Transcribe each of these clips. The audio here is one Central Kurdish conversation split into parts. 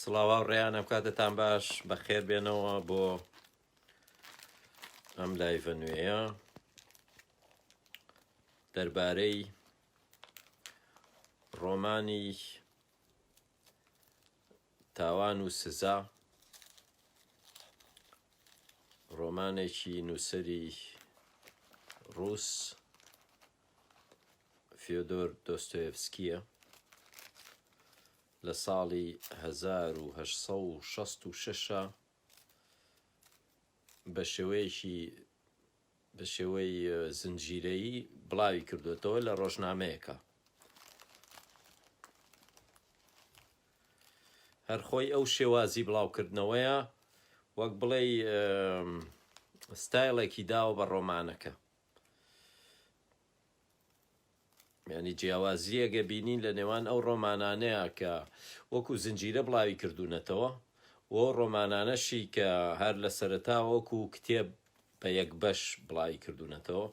سڵاوا و ڕێیان ئەم کاتتان باش بەخێر بێنەوە بۆ ئەم لایڤە نوێیە دەربارەی ڕۆمانی تاوان و سزا ڕۆمانێکی نووسری ڕوس فیۆدۆر دۆستۆیڤسکییە، لە ساڵی هەزار و هەشت سەد و شەست و شەش بە شێوەیەکی بە شێوەی زنجیرەیی بڵاوی کردوێتەوە لە ڕۆژنامەیەەکە هەرخۆی ئەو شێوازی بڵاوکردنەوەیە وەک بڵێ ستایلێکی داوە بە ڕۆمانەکە یانی جیاوازییەگە بینین لە نێوان ئەو ڕۆمانانەیا کە وەکوو زنجیرە بڵاوی کردوونەتەوە و ئەو ڕۆمانانەشی کە هەر لە سەرەتاوە وەکوو کتێب بە یەک بەش بڵاوی کردوونەتەوە.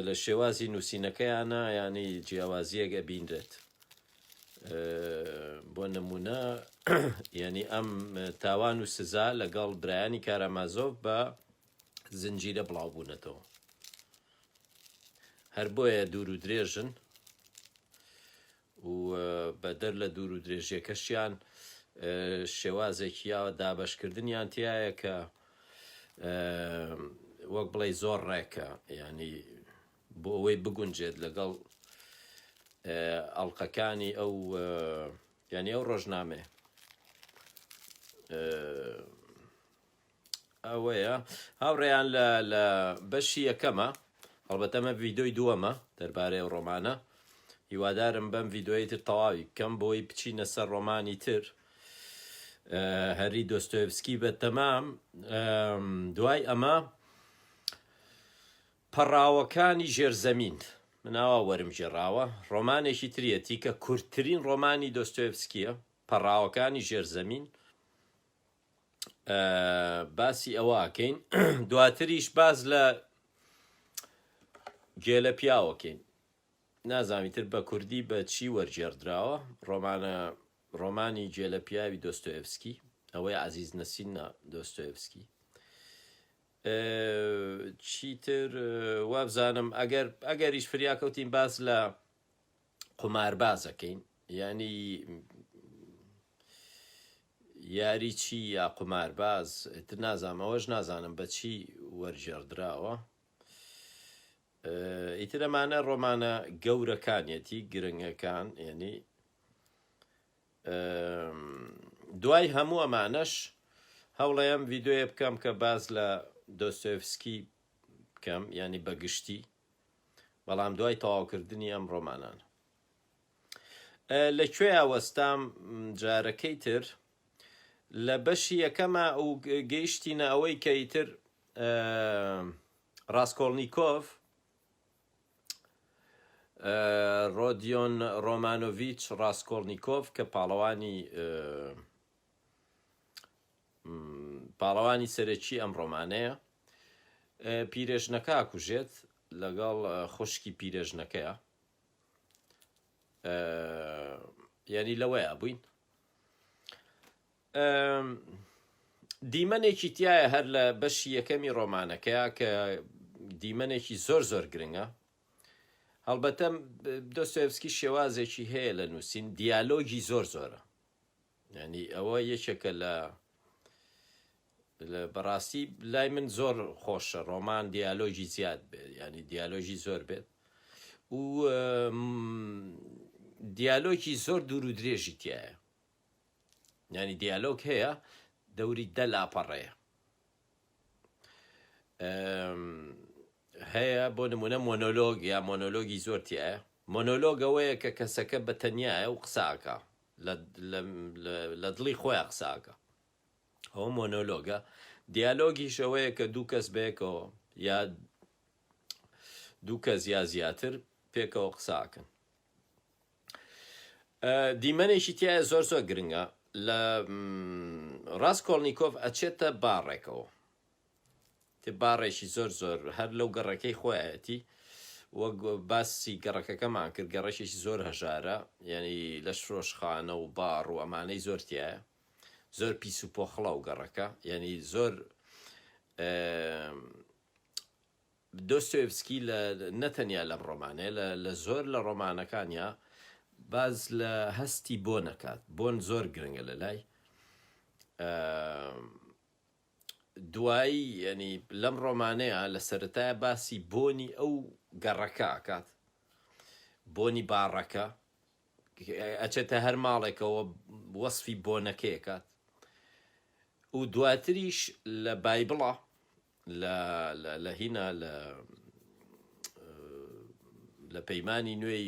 لە شێوازی نووسینەکەیانە یانی جیاوازیەک ئەبینرێت بۆ نمونە یعنی ئەم تاوان و سزا لەگەڵ برایانی کارامازۆف بە زنجیرە بڵاو بوونەتەوە هەر بۆیە دوور و درێژن و بەدەر لە دوور و درێژیەکەشیان شێوازێکی یا دابەش کردنیان تیایە کە وەک بڵێی زۆر ڕێکە یعنی بۆ ئەوەی بگونجێت لەگەڵ ئەڵلقەکانی ئەو یعنی ئەو ڕۆژنامێ ئەوەیە هاوڕێیان لە لە بەشی یەکەمە هەڵبەتەمە ڤیدۆی دووەمە دەربارەی ئەو ڕۆمانە هیوادارم بەم ڤیدۆی تر تەواوی بکەم بۆی بچینە سەر ڕۆمانی تر هەری دۆستۆیبسکی بە تەمام دوای ئەمە پەڕاوەکانی ژێرزەمین مناوا وەرم ژێراوە ڕۆمانێکی تریەتی کە کورتترین ڕۆمانی دۆستۆیفسکیە پەڕاوەکانی ژێرزەمین باسی ئەوە ئەکەین دواتریش باز لە گێلە پیاوەکەین نازامی تر بە کوردی بە چی وەرجێڕدراوە ڕۆمانە ڕۆمانی گێلە پیاوی دۆستۆێفسکی ئەوەی عزیز نەسینە دۆستۆێفسکی چیتر وابزانم ئەگەر ئەگەریش فریاکەوتین باز لە قوماربازەکەین یانی یاری چی یا قومارباز تر نازانم ئەوەش نازانم بە چی وەرجێڕدراوە ئیتر ئەمانە ڕۆمانە گەورەکانیەتی گرنگەکان یعنی دوای هەموو ئەمانەش هەوڵەیەم ڤیددیوە بکەم کە باز لە دۆستۆفسکی بکەم ینی بەگشتی بەڵام دوای تەواوکردنی ئەم ڕۆمانانە لە کوێیا وەستام جارەکەی تر لە بەشی یەکەمە و گەیشتینە ئەوەی کە ئیتر ڕاستکۆڵنییکۆف ڕۆدیۆن ڕۆمانۆڤچ ڕاستکۆڵنییکۆف کە پاڵەوانی پاڵەوانی سەرەکی ئەم ڕۆمانەیە پیرێژنەکە کوژێت لەگەڵ خوشکی پیرێژنەکەیە یعنی لەوەیە بووین دیمەنێکی تایە هەر لە بەشی یەکەمی ڕۆمانەکەیە کە دیمەنێکی زۆر زۆر گرنگە هەڵبەتە دۆستێفسکی شێوازێکی هەیە لە نووسین دیالۆگی زۆر زۆرە یانی ئەوە یەکێکە لە لە بەڕاستی لای من زۆر خۆشە ڕۆمان دیالۆژی زیاد بێت ینی دیالۆژی زۆر بێت و دیالۆکی زۆر دوور و درێژی تایە ینی دیالۆک هەیە دەوری دە لاپەڕەیە هەیە بۆ نمونە مۆنۆلۆگ یا مۆنۆلۆگی زۆر تایە مۆنۆلۆگ ئەوەیە کە کەسەکە بە تەنیایە و قساکە لە دڵی خۆیان قساکە ئەو مۆنۆلۆگە دیالۆگی شەوەیە کە دوو کەس بەیەکەوە یا دوو کەس یا زیاتر پێکەوە قساکەن دیمەنێکی تیایە زۆر زۆر گرنگە لە ڕاستکۆڵنییکۆف ئەچێتە باڕێکەوە تێ باڕێکی زۆر زۆر هەر لەو گەڕەکەی خۆیەتی وەک باسی گەڕەکەکەمان کرد گەڕەشێکی زۆر هەژارە یعنی لە شرۆشخانە و باڕ و ئەمانەی زۆر تایە زۆر پیس و پۆخڵە و گەڕەکە یعنی زۆر دۆستۆیڤسکی لە نە تەنیا لەم ڕۆمانەیە، لە لە زۆر لە ڕۆمانەکانیا باس لە هەستی بۆن ئەکات، بۆن زۆر گرنگە لە لای. ئە دوایی یەنی لەم ڕۆمانەیە لە سەرەتایە باسی بۆنی ئەو گەڕەکە ئەکات، بۆنی باڕەکە، ئەچێتە هەر ماڵێکەوە وەسفی بۆنەکەی ئەکات و دواتریش لە بایبڵا لە لە لە هینا لە لە پەیمانی نوێی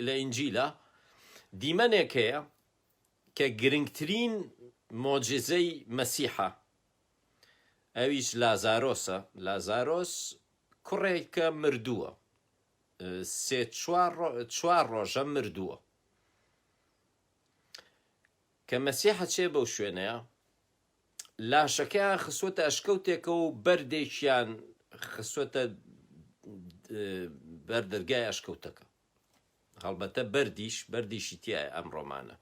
لە ئینجیلا دیمەنێک هەیە کە گرنگترین مۆجزەی مەسیحە ئەویش لازارۆسە لازارۆس کوڕێکە مردووە سێ چوار ڕۆژە مردووە کە مەسیحە چێ بەو شوێنەیە لاشەکەیان خستووەتە ئەشکەوتێکەوە و بەردێکیان خستووەتە بەر دەرگای ئەشکەوتەکە هەڵبەتە بەردیش بەردیشی تایە ئەم ڕۆمانە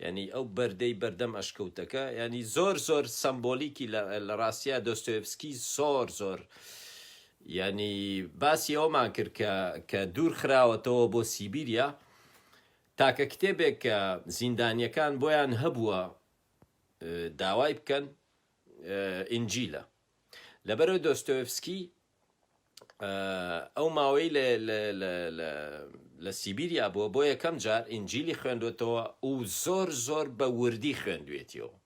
ینی ئەو بەردەی بەردەم ئەشکەوتەکە ینی زۆر زۆر سمبۆلیکی لە ڕاستە دۆستۆفسکی زۆر زۆر ینی باسی ئەومان کرد کە کە دوور خراوەتەوە بۆ سیبیریا تاکە کتێبێک کە زیندانیەکان بۆیان هەبووە داوای بکەن ئینجیلە. لەبەرئەوەی دۆستۆیڤسکی ئەو ماوەی لە سیبیریا بووە، بۆ یەکەم جار ئینجیلی خوێندۆتەوە و زۆر زۆر بە وردی خوێندوێتیەوە.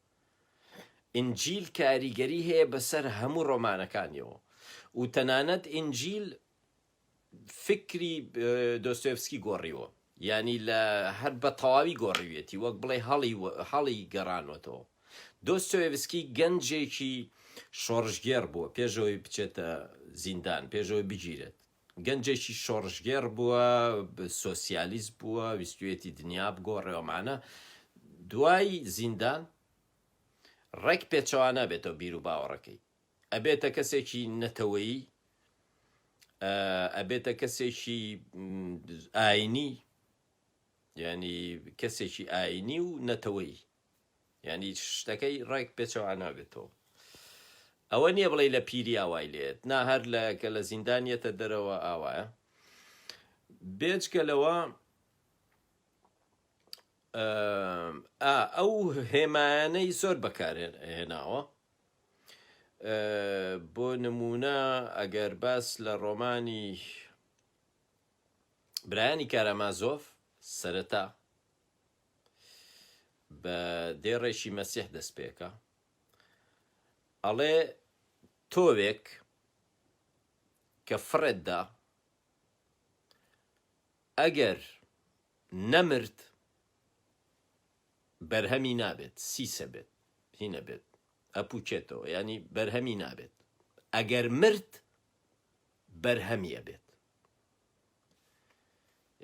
ئینجیل کاریگەری هەیە بەسەر هەموو ڕۆمانەکانیەوە و تەنانەت ئینجیل فیکری دۆستۆیڤسکی گۆڕیوە، یانی لە هەر بە تەواوی گۆڕیویەتی، وەک بڵێی هەڵی هەڵی گەڕانۆتەوە. دۆستۆیڤسکی گەنجێکی شۆڕشگێڕ بووە، پێش ئەوەی بچێتە زیندان، پێش ئەوەی بگیرێت، گەنجێکی شۆڕشگێڕ بووە، سۆسیالیست بووە، ویستویەتی دنیا بگۆڕێ و مانا دوای زیندان ڕێک پێچەوانە بێتەوە بیروباوەڕەکەی. ئەبێتە کەسێکی نەتەوەیی ئەبێتە کەسێکی ئاینی ینی کەسێکی ئاینی و نەتەوەی ینی شتەکەی ڕێک پێچەوانابێتەوە ئەوە نییە بڵێ لە پیری ئاوای لێت نا هەر لە کە لە زیندانیەتە دەرەوە ئاوایە بێچکە لەوە ئەو هێمانەی زۆر بەکارێن هێناوە بۆ نموونە ئەگەر باس لە ڕۆمانی برایانی کارامازۆف سەرەتا بە دێڕێکی مەسیح دەست پێکە ئەڵێ تۆوێک کە فڕێتدا ئەگەر نەمرد بەرهەمی نابێت سیسە بێت هینە بێت ئەپووچێتەوە یانی بەرهەمی نابێت ئەگەر مرد بەرهەمی ئەبێت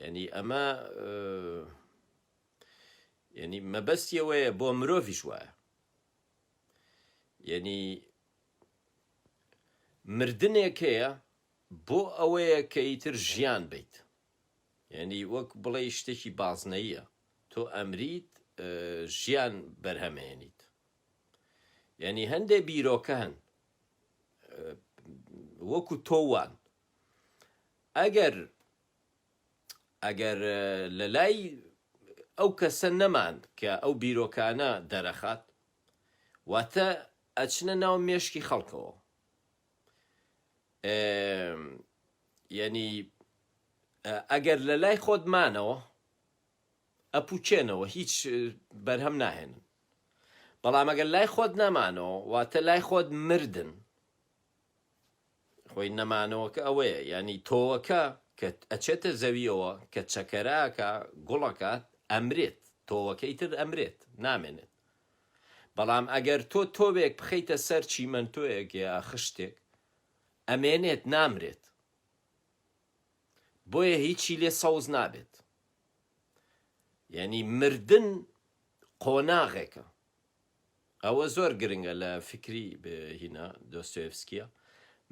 یعنی ئەمە یعنی مەبەستیەوەیە بۆ مرۆڤش وایە یعنی مردنێک هەیە بۆ ئەوەیە کە ئیتر ژیان بیت یانی وەک بڵێی شتێکی بازنەییە تۆ ئەمریت ژیان بەرهەمێنیت یانی هەندێ بیرۆکە هەن وەکو تۆوان ئەگەر ئەگەر لە لای ئەو کەسە نەمان کە ئەو بیرۆکانە دەرەخات واتە ئەچنە ناو مێشکی خەڵکەوە یەنی ئەگەر لە لای خۆت مانەوە ئەپوچێنەوە هیچ بەرهەم ناهێنن بەڵام ئەگەر لای خۆت نەمانەوە واتە لای خۆت مردن خۆی نەمانەوەکە ئەوەیە ینی تۆوەکە کە ئەچێتە زەویەوە کە چەکەراکە گوڵەکات ئەمرێت تۆوەکەی تر ئەمرێت نامێنێت بەڵام ئەگەر تۆ تۆوێک بخەیتە سەر چیمەنتۆیەک یا خشتێک ئەمێنێت نامرێت بۆیە هیچی لێ سەوز نابێت یعنی مردن قۆناغێکە ئەوە زۆر گرنگە لە فکری هینا دۆستۆفسکیە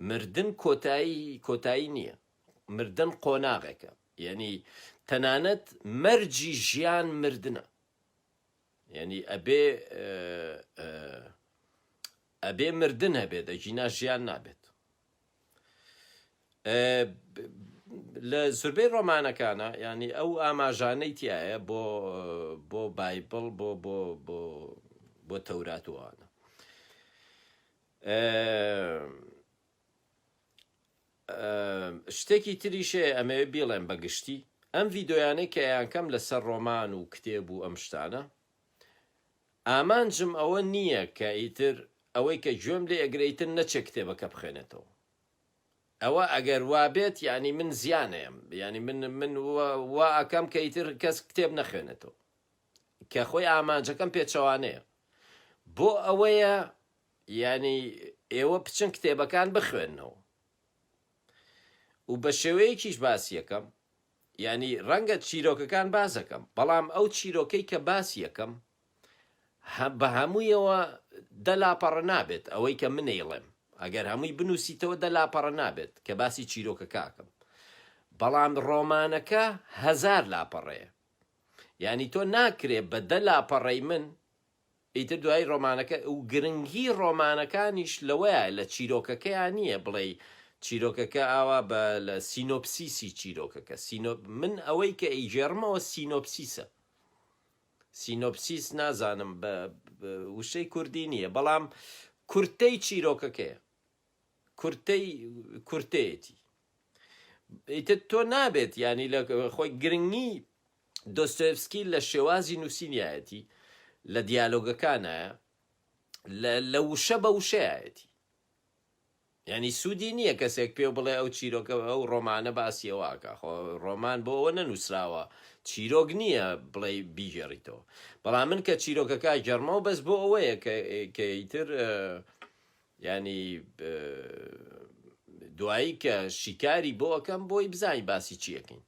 مردن کۆتایی کۆتایی نییە مردن قۆناغێکە یعنی تەنانەت مەرجی ژیان مردنە یەنی ئەبێ ئەبێ مردن هەبێت ئەگینا ژیان نابێت لە زوربەی ڕۆمانەکانە ینی ئەو ئاماژانەی تایە بۆ بۆ بایبڵ بۆ بۆ بۆ بۆ تەوراتوانە شتێکی تریش هەیە ئەمەوێ بیڵێم بە گشتی ئەم ڤیدۆیانەی کە یانکەم لەسەر ڕۆمان و کتێب و ئەم شتانە ئامانجم ئەوە نییە کە ئیتر ئەوەی کە گوێم لێ ئەگرەیتر نەچێ کتێبەکە بخێنێتەوە ئەوە ئەگەر وابێت ینی من زیانەیەم ینی من من وا ئەکەم کە ئیتر کەس کتێب نەخێنێتەوە کە خۆی ئامانجەکەم پێچەوانەیە بۆ ئەوەیە یانی ئێوە بچن کتێبەکان بخوێنەوە و بەشێوەیەکیش باسی یەکەم یانی ڕەنگە چیرۆکەکان بازەکەم بەڵام ئەو چیرۆکەی کە باسی یەکەم بە هەموویەوە دە لاپەڕە نابێت ئەوەی کە منەیڵێم ئەگەر هەمووی بنووسیتەوە دە لاپەڕە نابێت کە باسی چیرۆکە کاکەم بەڵام ڕۆمانەکە هزار لاپەڕەیە یعنی تۆ ناکرێ بە دە لاپەڕەی من ئیتر دوای ڕۆمانەکە و گرنگی ڕۆمانەکانیش لەوەیە لە چیرۆکەکەیا نییە بڵێی چیرۆکەکە ئاوا بە لە سینۆپسیسی چیرۆکەکە سینۆ من ئەوەی کە ئەیگێڕمەوە سینۆپسیسە سینۆپسیس نازانم بە وشەی کوردی نییە بەڵام کورتەی چیرۆکەکەیە کورتەی کورتەیەتی ئیتر تۆ نابێت ینی لە خۆی گرنگی دۆستۆیڤسکی لە شێوازی نووسینیایەتی، لە دیالۆگەکانایە، لە لە وشە بە وشەیایەتی. یانی سوودی نییە کەسێک پێو بڵێ ئەو چیرۆکە ئەو ڕۆمانە باسی ئەوە ئەکا خۆ ڕۆمان بۆ ئەوە نەنووسراوە چیرۆک نییە بڵێ بیگێڕیتەوە بەڵام من کە چیرۆکەکە گەڕمە و بەس بۆ ئەوەیە کەیتر ینی دوایی کە شیکاری بۆ ئەەکەم بۆی بزانین باسی چیەکەین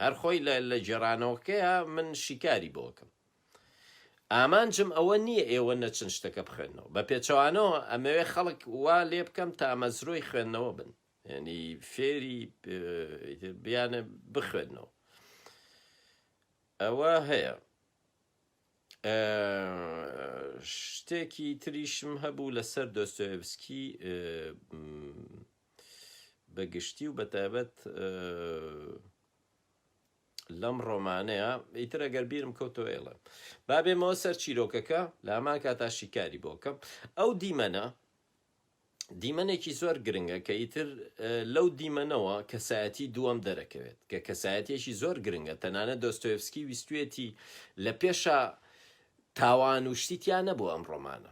هەر خۆی لە لە گێڕانەوەکەیا من شیکاری بۆ ئەکەم. ئامانجم ئەوە نییە ئێوە نەچن شتەکە بخوێننەوە. بە پێچەوانەوە ئەمەوێ خەڵک وا لێ بکەم تامەزرۆی خوێندنەوە بن. یانی فێری ئیتر بیانە بخوێننەوە. ئەوە هەیە. شتێکی تریشم هەبوو لەسەر دۆستۆیڤسکی بە گشتی و بە تایبەت لەم ڕۆمانەیە ئیتر ئەگەر بیرم کەوتەوە ئێڵێ با بێمەوە سەر چیرۆکەکە لە هەمان کاتا شیکاری بۆکەم ئەو دیمەنە دیمەنێکی زۆر گرنگە کە ئیتر لەو دیمەنەوە کەسایەتی دووەم دەرەکەوێت کە کەسایەتێکی زۆر گرنگە تەنانە دۆستۆفسکی ویستوێتی لە پێشە تاوان و شتیتیان نەبوو ئەم ڕۆمانە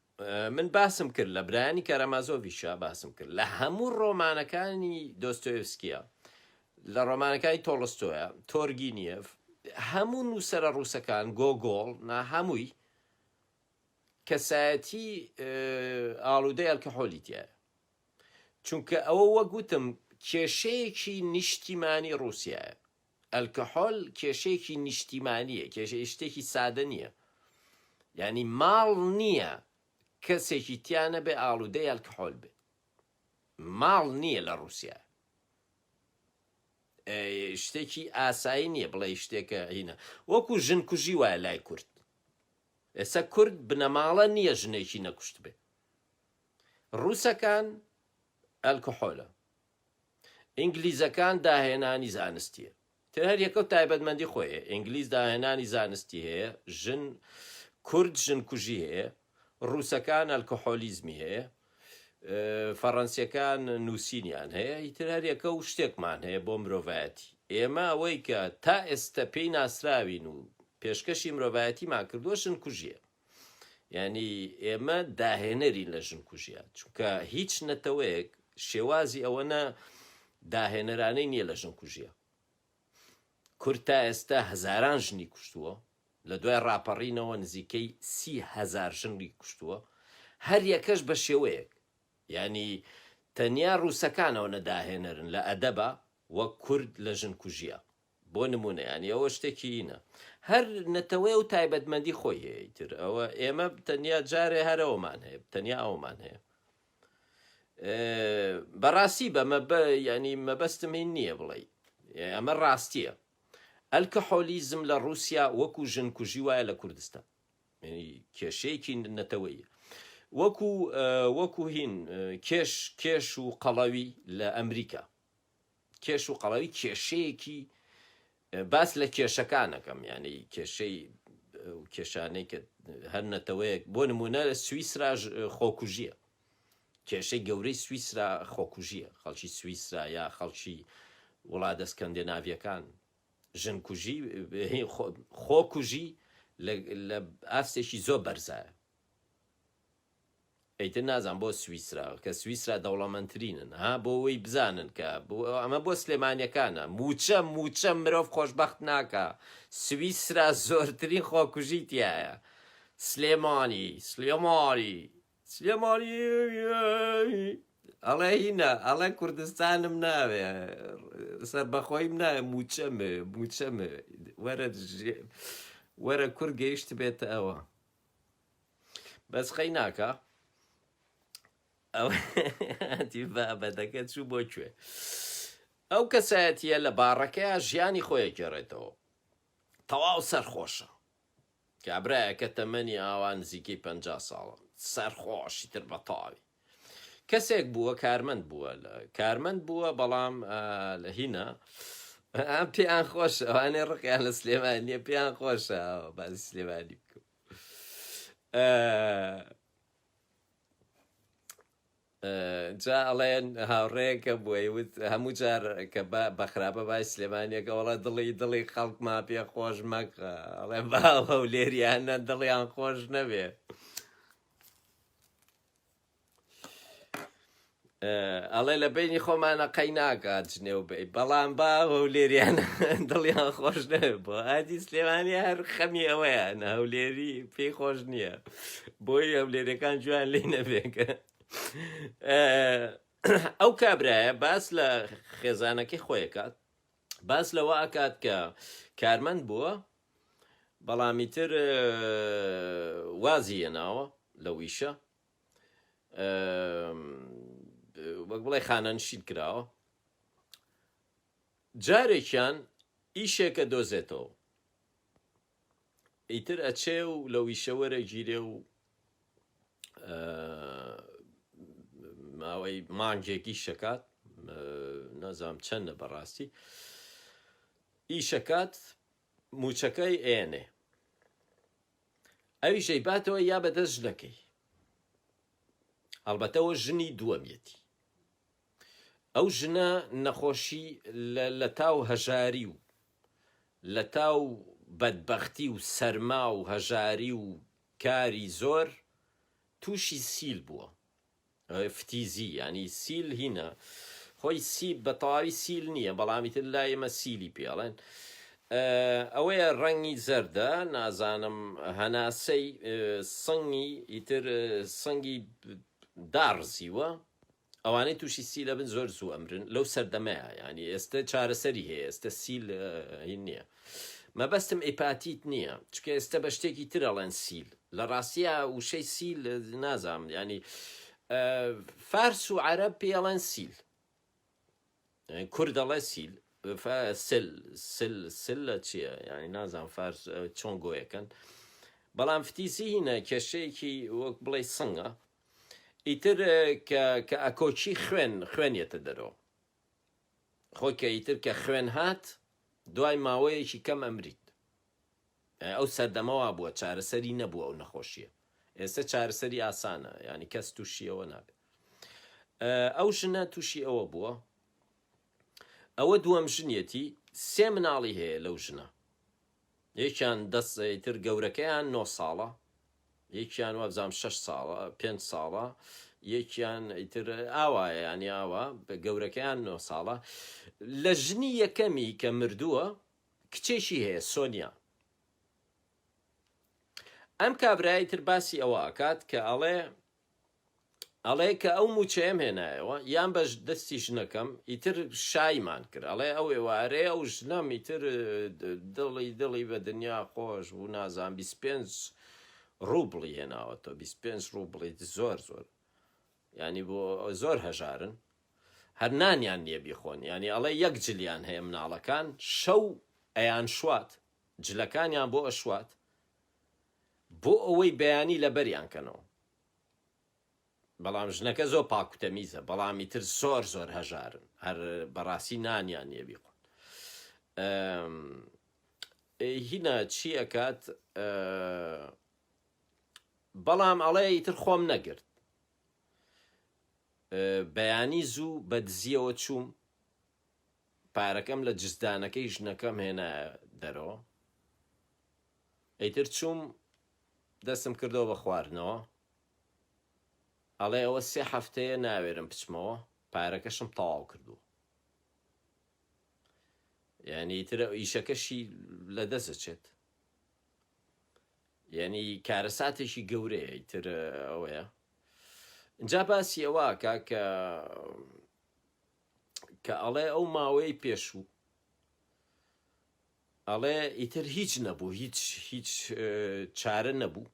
من باسم کرد لە برایانی کارامازۆڤیشا باسم کرد لە هەموو ڕۆمانەکانی دۆستۆیفسکیە لە ڕۆمانەکانی تۆڵستۆیە تۆرگینیف هەموو نووسرە ڕووسەکان گۆگۆڵ نا هەمووی کەسایەتی ئاڵودەی ئەلکەحۆلی تایە چونکە ئەوە وەگوتم کێشەیەکی نیشتیمانی ڕووسایە ئەلکەحۆل کێشەیەکی نیشتیمانیە کێشە شتێکی سادە نیە یانی ماڵ نیە کەسێکی تیا نەبێ ئاڵودەی ئەلکەحۆل بێ ماڵ نیە لە ڕوسیا شتێکی ئاسایی نیە بڵێ شتێکە هینە وەکو ژن کوژی وایە لای کورد ئێستا کورد بنەماڵە نییە ژنێکی نەکوشت بێ ڕووسەکان ئەلکۆحۆلە ئینگلیزەکان داهێنانی زانستیە تر هەر یەکەو تایبەتمەندی خۆی هەیە ئینگلیز داهێنانی زانستی هەیە ژن کورد ژن کوژی هەیە ڕووسەکان ئەلکۆحۆلیزمی هەیە فەڕەنسیەکان نووسینیان هەیە ئیتر هەر یەکە و شتێکمان هەیە بۆ مرۆڤایەتی ئێمە ئەوەی کە تا ئێستا پێی ناسراوین و پێشکەشی مرۆڤایەتیمان کردووە ژن کوژیە یانی ئێمە داهێنەرین لە ژن کوژیا چونکە هیچ نەتەوەیەک شێوازی ئەوەنە داهێنەرانەی نییە لە ژن کوژیە کورد تا ئێستا هەزاران ژنی کوشتووە لە دوای ڕاپەڕینەوە نزیکەی سی هزار ژنی کوشتووە هەر یەکەش بە شێوەیەک ینی تەنیا ڕووسەکانەوە نەداهێنەرن لە ئەدەبە وە کورد لە ژن کوژیە بۆ نموونە یانی ئەوە شتێکی ئینە هەر نەتەوەیە و تایبەتمەندی خۆی هەیە ئیتر ئەوە ئێمە تەنیا جارێ هەرەوەمان هەیە تەنیا ئەومان هەیە بەڕاستی بەمە بە ینی مەبەستم هین نییە بڵێ ئەمە ڕاستیە ئەلکە حۆلیزم لە رووسیا وەکو ژن کوژی وایە لە کوردستان کێشەیەکی نەتەوەیە وەکو وەکو هین کێش کێش و قەڵەوی لە ئەمریکا کێش و قەڵەوی کێشەیەکی باس لە کێشەکانەکەم یعنی کێشەی کێشانەی کە هەر نەتەوەیەک بۆ نمونە لە سویسرا خۆکوژیە کێشەی گەورەی سویسرا خۆکوژیە خەڵکی سویسرا یا خەڵکی وڵا دەستکەندێ ناویەکان ژن کوژی خۆکوژی لە ئاستێکی زۆر بەرزایە ئیتر نازانم بۆ سویسرا کە سویسرا دەوڵەمەنترینن ها بۆ وەی بزانن کە ئەمە بۆ سلێمانیەکانە موچە موچە مرۆڤ خۆشبەخت ناکا سویسرا زۆرترین خۆکوژی تیایە سلێمانی سلێمانی سلێمانی ئەڵێ هینە ئەڵێ کوردستانم ناوێ سربەخۆیم ناوێ موچەمێ موچەمێ وەرە وەرە کورد گەیشت بێتە ئەوە بەس قەیناکە بەدەکە چوو بۆ کوێ ئەو کەسایەتە لە باڕەکەیە ژیانی خۆیە گێڕێتەوە تەواو سەرخۆشە کابراەکە تەمەنی ئاوا نزیکەی پ ساڵە سەرخۆشی تر بەتاوی کەسێک بووە کارمەند بووە لە کارمەند بووە بەڵام لە هینە پێیان خۆش ئەوانێ ڕقیان لە سلێمانیە پێیان خۆشە باز سلێمانی بکە جا ئەڵێن هاوڕێکە بۆی وت هەموو جار کە بەخراپە بای سلێمانیەکە وڵە دڵی دڵی خەڵک ما پێ خۆش مەکە ئەڵێ باوە و لێریانە دڵیان خۆش نەبێ ئەڵێ لە بینی خۆمانە قەی ناکات جنێو بی بەڵام با هەولێریان دڵیان خۆش نەوێ بۆ ئادی سلێمانی هەر خەمی ئەوەیان هەولێری پێی خۆش نییە بۆی هەولێرەکان جویان لی نەبێکە ئەو کابرایە باس لە خێزانەکەی خۆیکات باس لەوە ئاکات کە کارمەند بووە بەڵامی تر وازیە ناوە لە ویشە وەک بڵێ خانەنشین کراوە جارێکیان ئیشێکە دۆزێتەوە ئیتر ئەچێ و لە ویشەوەرە گیرێ و ماوەی مانگێکی شکات نازام چەندە بەڕاستی ئیشەکات موچەکەی ئەیەنێ ئەویش ئەیباتەوە یا بە دەست ژنەکەی هەڵبەتە ئەوە ژنی دووەمیەتی ئەو ژنە نەخۆشی لە تاو هەژاری و لە تاو بەدبەختی و سەرما و هەژاری و کاری زۆر تووشی سیل بووە فتیزی یانی سیل هینا خۆی سیب بە تەواوی سیل نییە بەڵامی تر لا ئێمە سیلی پێڵێن ئەوەیە ڕەنگی زەردە نازانم هەناسەی سنگی ئیتر سنگی داڕزیوە ئەوانەی تووشی سی لە بن زۆر زوو ئەمرن لەو سەردەمەیە ینی ئێستا چارەسەری هەیە ئێستا سیل نییە مەبەستم ئیپاتیت نیە چکە ئێستە بە شتێکی تر ئەڵێن سیل لە ڕاستیا وشەی سیل نازام ینی فارس و عەرەب پێ ئەڵێن سیل کورد ئەڵێ سیل سل سل سل لە چییە ینی نازان فارس چۆن گۆیەکەن بەڵام فتیسی هینە کێشەیەکی وەک بڵێ سنگە ئیتر کە ئەکۆچی خوێن خوێنێتە دەرەوە خۆ کە ئیتر کە خوێن هات دوای ماوەیەکی کەم ئەمریت یانی ئەو سەردەمە وابووە چارەسەری نەبوو ئەو نەخۆشیە ئێستە چارەسەری ئاسانە یانی کەس تووشی ئەوە نابێت ئەو ژنە تووشی ئەوە بووە ئەوە دووەم ژنیەتی سێ مناڵی هەیە لەو ژنە یەکیان دە سە ئیتر گەورەکەیان نۆ ساڵە یەکیان وابزانم شەش ساڵە پێنج ساڵە یەکیان ئیتر ئاوایە یانی ئاوا بە گەورەکەیان نۆ ساڵە لە ژنی یەکەمی کە مردووە کچێکی هەیە سۆنیا ئەم کابرای تر باسی ئەوە ئەکات کە ئەڵێ ئەڵێ کە ئەو مووچەیەم هێنایەوە یان بە دەستی ژنەکەم ئیتر شایمان کرد ئەڵێ ئەو ئێوارەیە ئەو ژنەم ئیتر دڵی دڵی بە دنیا خۆش بوو نازان 25 ڕووبڵی هێناوەتەوە 25 ڕووبڵی زۆر زۆر ینی بۆ زۆر هەژارن هەر نانیان نییە بیخۆن ینی ئەڵێ یەک جلیان هەیە مناڵەکان شەو ئەیان شوات جلەکانیان بۆ ئەشوات بۆ ئەوەی بەیانی لەبەریان کەنەوە بەڵام ژنەکە زۆر پاکو تەمیزە بەڵام ئیتر زۆر زۆر هەژارن هەر بەڕاستی نانیان نیە بیخۆن هینا چی ئەکات بەڵام ئەڵێ ئیتر خۆم نەگرت بەیانی زوو بە دزیەوە چووم پارەکەم لە جزدانەکەی ژنەکەم هێنا دەرەوە ئیتر چووم دەستم کردەوە بە خواردنەوە ئەڵێ ئەوە سێ هەفتەیە ناوێرم بچمەوە پارەکەشم تەواو کردووە یعنی ئیتر ئیشەکەشی لە دەست دەچێت یعنی کارەساتێکی گەورەیە ئیتر ئەوەیە جا باسی ئەوە کە کە کە ئەڵێ ئەو ماوەی پێشوو ئەڵێ ئیتر هیچ نەبوو، هیچ هیچ چارە نەبوو.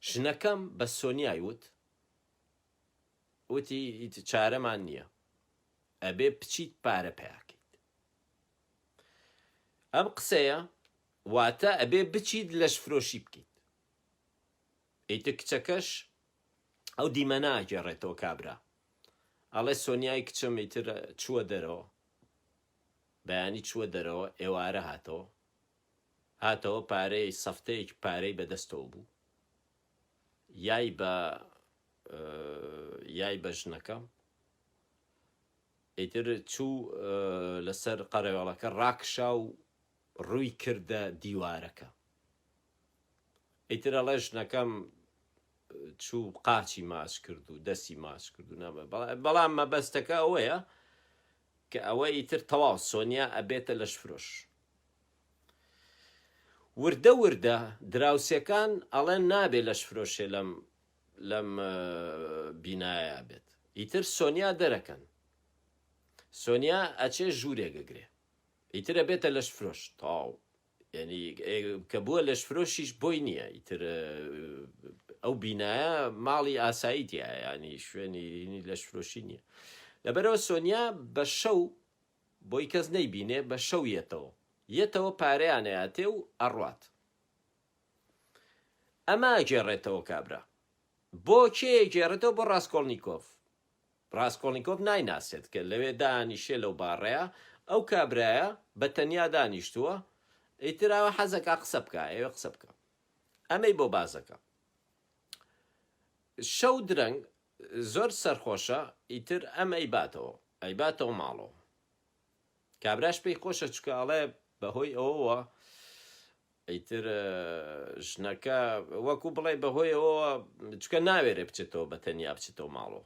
ژنەکەم بە سۆنیای وت، وتی ئیتر چارەمان نییە، ئەبێ بچیت پارە پەیاکەیت. ئەم قسەیە واتە ئەبێ بچیت لەشفرۆشی بکەیت. ئیتر کچەکەش ئەو دیمەنە ئەگێڕێتەوە کابرا ئەڵێ سۆنیای کچم ئیتر چووە دەرەوە، بەیانی چووە دەرەوە ئێوارە هاتەوە هاتەوە پارەی سەفتەیەک پارەی بەدەستەوە بوو یای بە یای بە ژنەکەم ئیتر چوو لەسەر قەرەوێڵەکە ڕاکشا و ڕووی کردە دیوارەکە ئیترە ڵێ ژنەکەم چوو قاچی ماچ کرد و دەستی ماچ کرد و نامە بەڵام مەبەستەکە ئەوەیە کە ئەوە ئیتر تەواو سۆنیا ئەبێتە لەشفرۆش وردە وردە دراوسێکان ئەڵێن نابێ لەشفرۆشێ لەم لەم بینایە بێت ئیتر سۆنیا دەرەکەن سۆنیا ئەچێ ژوورێگەگرێ ئیترە بێتە لەشفرۆش تاو یانی کە بووە لەشفرۆشیش بۆی نییە ئیتر ئەو بینایە ماڵی ئاسایی تیایانی شوێنی لەشفرۆشی نییە لەبەرەوە سۆنیا بە شەو بۆی کەس نەیبینێ بە شەو یەتەوە یەتەوە پارەیانەیاتێ و ئەڕات ئەمە گێڕێتەوە کابرا بۆ کێ گێڕێتەوە بۆ ڕاستکۆڵنییکۆف ڕاسکۆڵنیکۆف نایناسێت کە لەوێ دانیشێ لەو باڕەیە ئەو کابرایە بە تەنیا دانیشتووە ئیتر ئەوە حەزەکا قسە بکا ئەوێ قسە بکا ئەمەی بۆ بازەکە شەو درەنگ زۆر سەرخۆشە ئیتر ئەم ئەیباتەوە ئەیباتەوە ماڵەوە کابراش پێی خۆشە چکە ئەڵێ بەهۆی ئەوەوە ئیتر ژنەکە وەکو بڵێی بەهۆی ئەوەوە چونکە ناوێرێ بچێتەوە بە تەنیا بچێتەوە ماڵەوە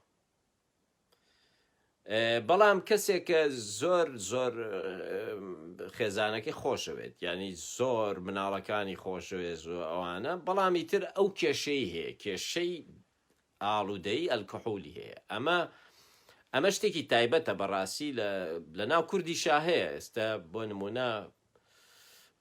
بەڵام کەسێک کە زۆر زۆر خێزانەکەی خۆشەوێت ینی زۆر مناڵەکانی خۆشەوێت زۆر ئەوانە بەڵامی تر ئەو کێشەی هەیە کێشەی ئاڵودەی ئەلکحولی هەیە ئەمە ئەمە شتێکی تایبەتە بەڕاستی لە ناو کوردی شاهەیە ئێستا بۆ نمونە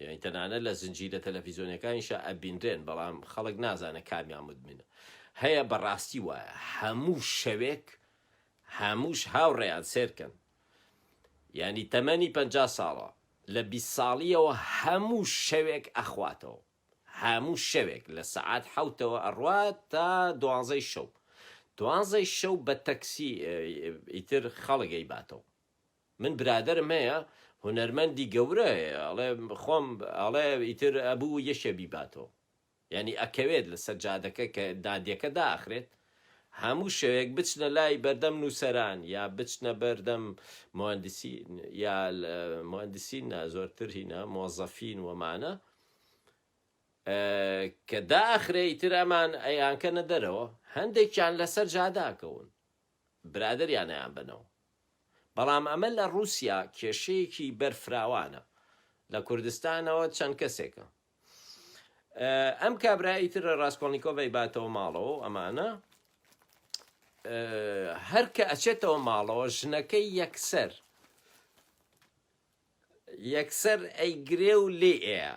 یانی تەنانەت لە زنجیرە تەلەفیزۆنیەکانیشا ئەبینرێن بەڵام خەڵک نازانێت کامیان مدمنە هەیە بەڕاستی وایە هەموو شەوێک هەمووش هاوڕێیان سێرکەن یانی تەمەنی پ ساڵە لە بیست ساڵیەوە هەموو شەوێک ئەخواتەوە هەموو شەوێک لە سەعات حەوتەوە ئەڕوات تا دوانزەی شەو دوانزەی شەو بە تەکسی ئیتر خەڵک ئەیباتەوە من برادەرم هەیە هونەرمەندی گەورە هەیە ئەڵێ خۆم ئەڵێ ئیتر ئەبوو یەکێ بیباتەوە یانی ئەکەوێت لەسەر جادەکە کە دادیەکە داخرێت هەموو شەوێک بچنە لای بەردەم نووسەران یا بچنە بەردەم مهندسی یا مهندسی نا زۆرتر هینا مۆزەفین وەمانە کە داخرێ ئیتر ئەمان ئەیانکەنە دەرەوە هەندێکیان لەسەر جاداکەون برادەریانیان بنەوە. بەڵام ئەمە لە ڕووسیا کێشەیەکی بەرفراوانە. لە کوردستانەوە چەند کەسێکە. ئەم کابرا ئیتر ڕاسکۆڵنیکۆڤ ئەیباتەوە ماڵەوە و ئەمانە. هەر کە ئەچێتەوە ماڵەوە ژنەکەی یەکسەر یەکسەر ئەیگرێ و لێ ئەیە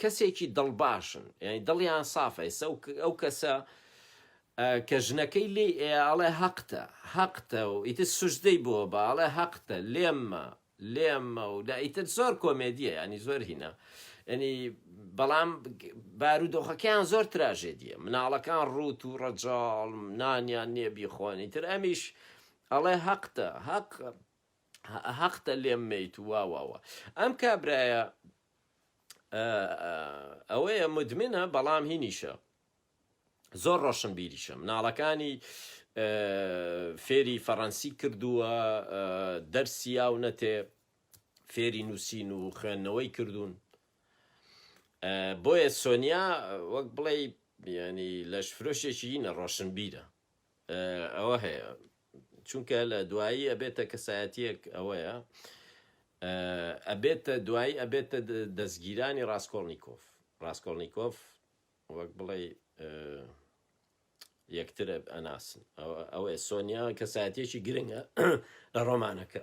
کەسێکی دڵ باشن یانی دڵیان سافە ئێسە ئەو کەسە کە ژنەکەی لێ ئەڵێ هەقتە هەقتە و ئیتر سوژدەی بۆ بە ئەڵێ هەقتە لێممە لێممە و دا ئیتر زۆر کۆمێدیە ینی زۆر هینە ینی بەڵام بارودۆخەکەیان زۆر تراژێدیە مناڵەکان ڕوت و ڕەجاڵ نانیان نییە بیخۆنی تر ئەمیش ئەڵێ هەقتە هەق هەقتە لێم میت واواوە ئەم کابرایە ئەوەیە مدمنە بەڵام هینیشە زۆر ڕۆشن بیریشە مناڵەکانی فێری فەڕەنسی کردووە دەرسیا و نەتێ فێری نووسین و خوێندنەوەی کردوون بۆیە سۆنیا وەک بڵێ ینی لەش فرۆشێکی نە ڕۆشنبیرە ئەوە هەیە چونکە لە دوایی ئەبێتە کەسایەتیەک ئەوەیە ئەبێتە دوایی ئەبێتە دەستگیرانی ڕاستکۆڵنییکۆف ڕاستکۆڵنییکۆف وەک بڵێ یەکتر ئەناسن ئەوەیە سۆنیا کەسایەتێکی گرنگە لە ڕۆمانەکە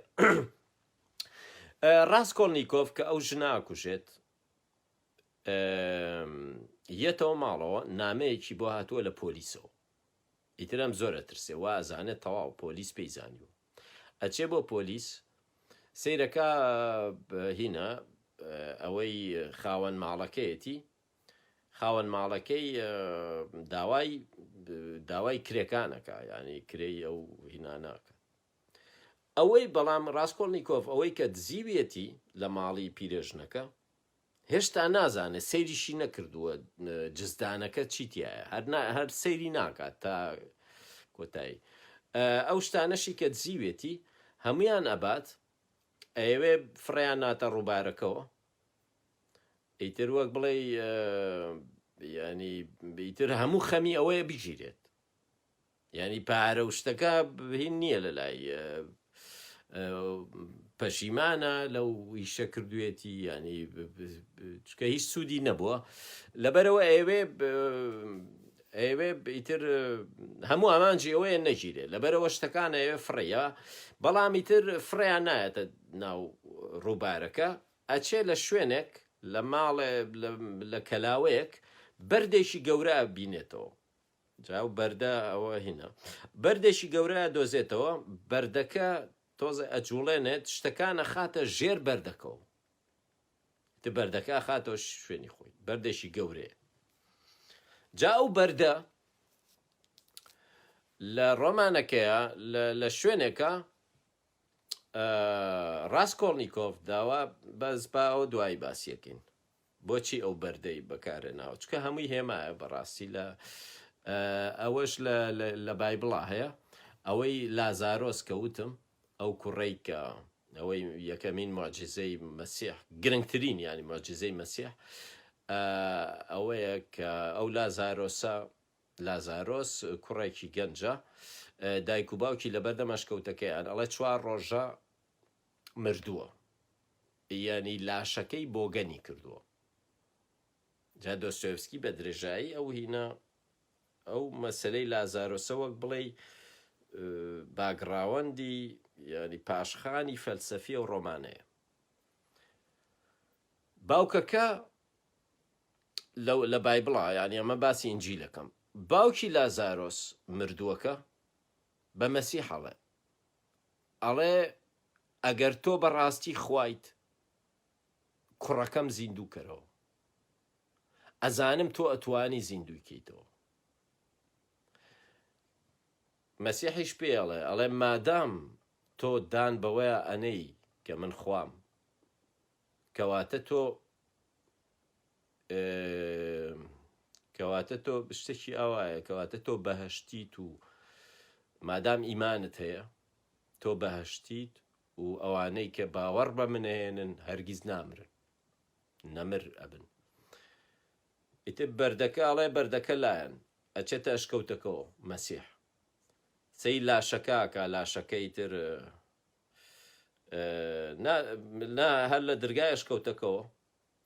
ڕاستکۆڵنییکۆف کە ئەو ژناکوژێت یەتەوە ماڵەوە نامەیەکی بۆ هاتووە لە پۆلیسەوە ئیتر ئەم زۆر ئەترسێ وا ئەزانێ تەواو پۆلیس پێی زانیوە ئەچێ بۆ پۆلیس سەیرەکا هینا ئەوەی خاوەن ماڵەکەیەتی خاوەن ماڵەکەی داوای داوای کرێکانەکە یعنی کرێی ئەو هیناناکە ئەوەی بەڵام ڕاستکۆڵنییکۆف ئەوەی کە دزیویەتی لە ماڵی پیرێژنەکە هێشتا نازانێت سەیریشی نەکردووە جزدانەکە چی تایە هەر هەر سەیری ناکات تا کۆتایی ئەو شتانەشی کە دزیوێتی هەمویان ئەبات ئەوێ فڕیان ناتە ڕووبارەکەەوە ئیتر وەک بڵێ ینی بیتر هەموو خەمی ئەوەیە بگیرێت یانی پارە و شتەکە هین نییە لە لای پەشیمانە لەو ئیشە کردوێتی ینی چکە هیچ سوودی نەبووە لەبەرەوە ئەوێ ئەوێ ئیتر هەموو ئامانجی ئەوەیە نەگیرێ لەبەرەوە شتەکان ئەوێ فڕەیە بەڵامی تر فڕیان نایەتە ناو ڕووبارەکە ئەچێ لە شوێنێک لە ماڵێ لە کەلاوەیەک بەردێکی گەورە بینێتەوە جا ئەو بەردە ئەوە هینا بەردێکی گەورە ئەدۆزێتەوە، بەردەکە تۆزێ ئەجوڵێنێت شتەکان ئەخاتە ژێر بەردەکەوە، ئیتر بەردەکە ئەخاتەوە شوێنی خۆی، بەردێکی گەورەیە. جا ئەو بەردە لە ڕۆمانەکەیە لە شوێنێکە ڕاستکۆڵنییکۆف داوا بەس با ئەو دوایی باسیەکەین. بۆچی ئەو بەردەی بەکارهێناوە چونکە هەمووی هێمایە بەڕاستی لە ئەوەش لە بایبڵا هەیە ئەوەی لازارۆس کە وتم ئەو کوڕەی کە ئەوەی یەکەمین معجززەی مەسیح گرنگترین ینی معجززەی مەسیح ئەوەیە کە ئەو لازارۆسە لازارۆس کوڕێکی گەنجە دایک و باوکی لەبەردەم ئەشکەوتەکەیان ئەڵێ چوار ڕۆژە مردووە یانی لاشەکەی بۆگەنی کردووە جا دۆستۆیڤسکی بە درێژایی ئەو هینا ئەو مەسەلەی لازارۆسە وەک بڵێی باگڕاوەندی یانی پاشخانی فەلسەفی و ڕۆمانەیە باوکەکە لە بایبڵا یانی ئەمە باسی ئنجیلەکەم باوکی لازارۆس مردووەکە بە مەسیحەڵێ ئەڵێ ئەگەر تۆ بەڕاستی خوایت کوڕەکەم زیندوو کەرەوە ئەزانم تۆ ئەتوانی زیندووی کەیتەوە مەسیحیش پێڵێ ئەڵێ مادام تۆ دان بەوەیە ئەنەی کە من خوام کەواتە تۆ کەواتە تۆ شتێکی ئاوایە کەواتە تۆ بەهشتیت و مادام ئیمانت هەیە تۆ بەهشتیت و ئەوانەی کە باوەڕ بە منەهێنن هەرگیز نامرن نەمر ئەبن ئیتر بەردەکە ئەڵێ بەردەکە لایەن ئەچێتە ئەشکەوتەکەەوە مەسیح سەی لاشەکەکە لاشەکەی تر هەر لە درگای ئەشکەوتەکەەوە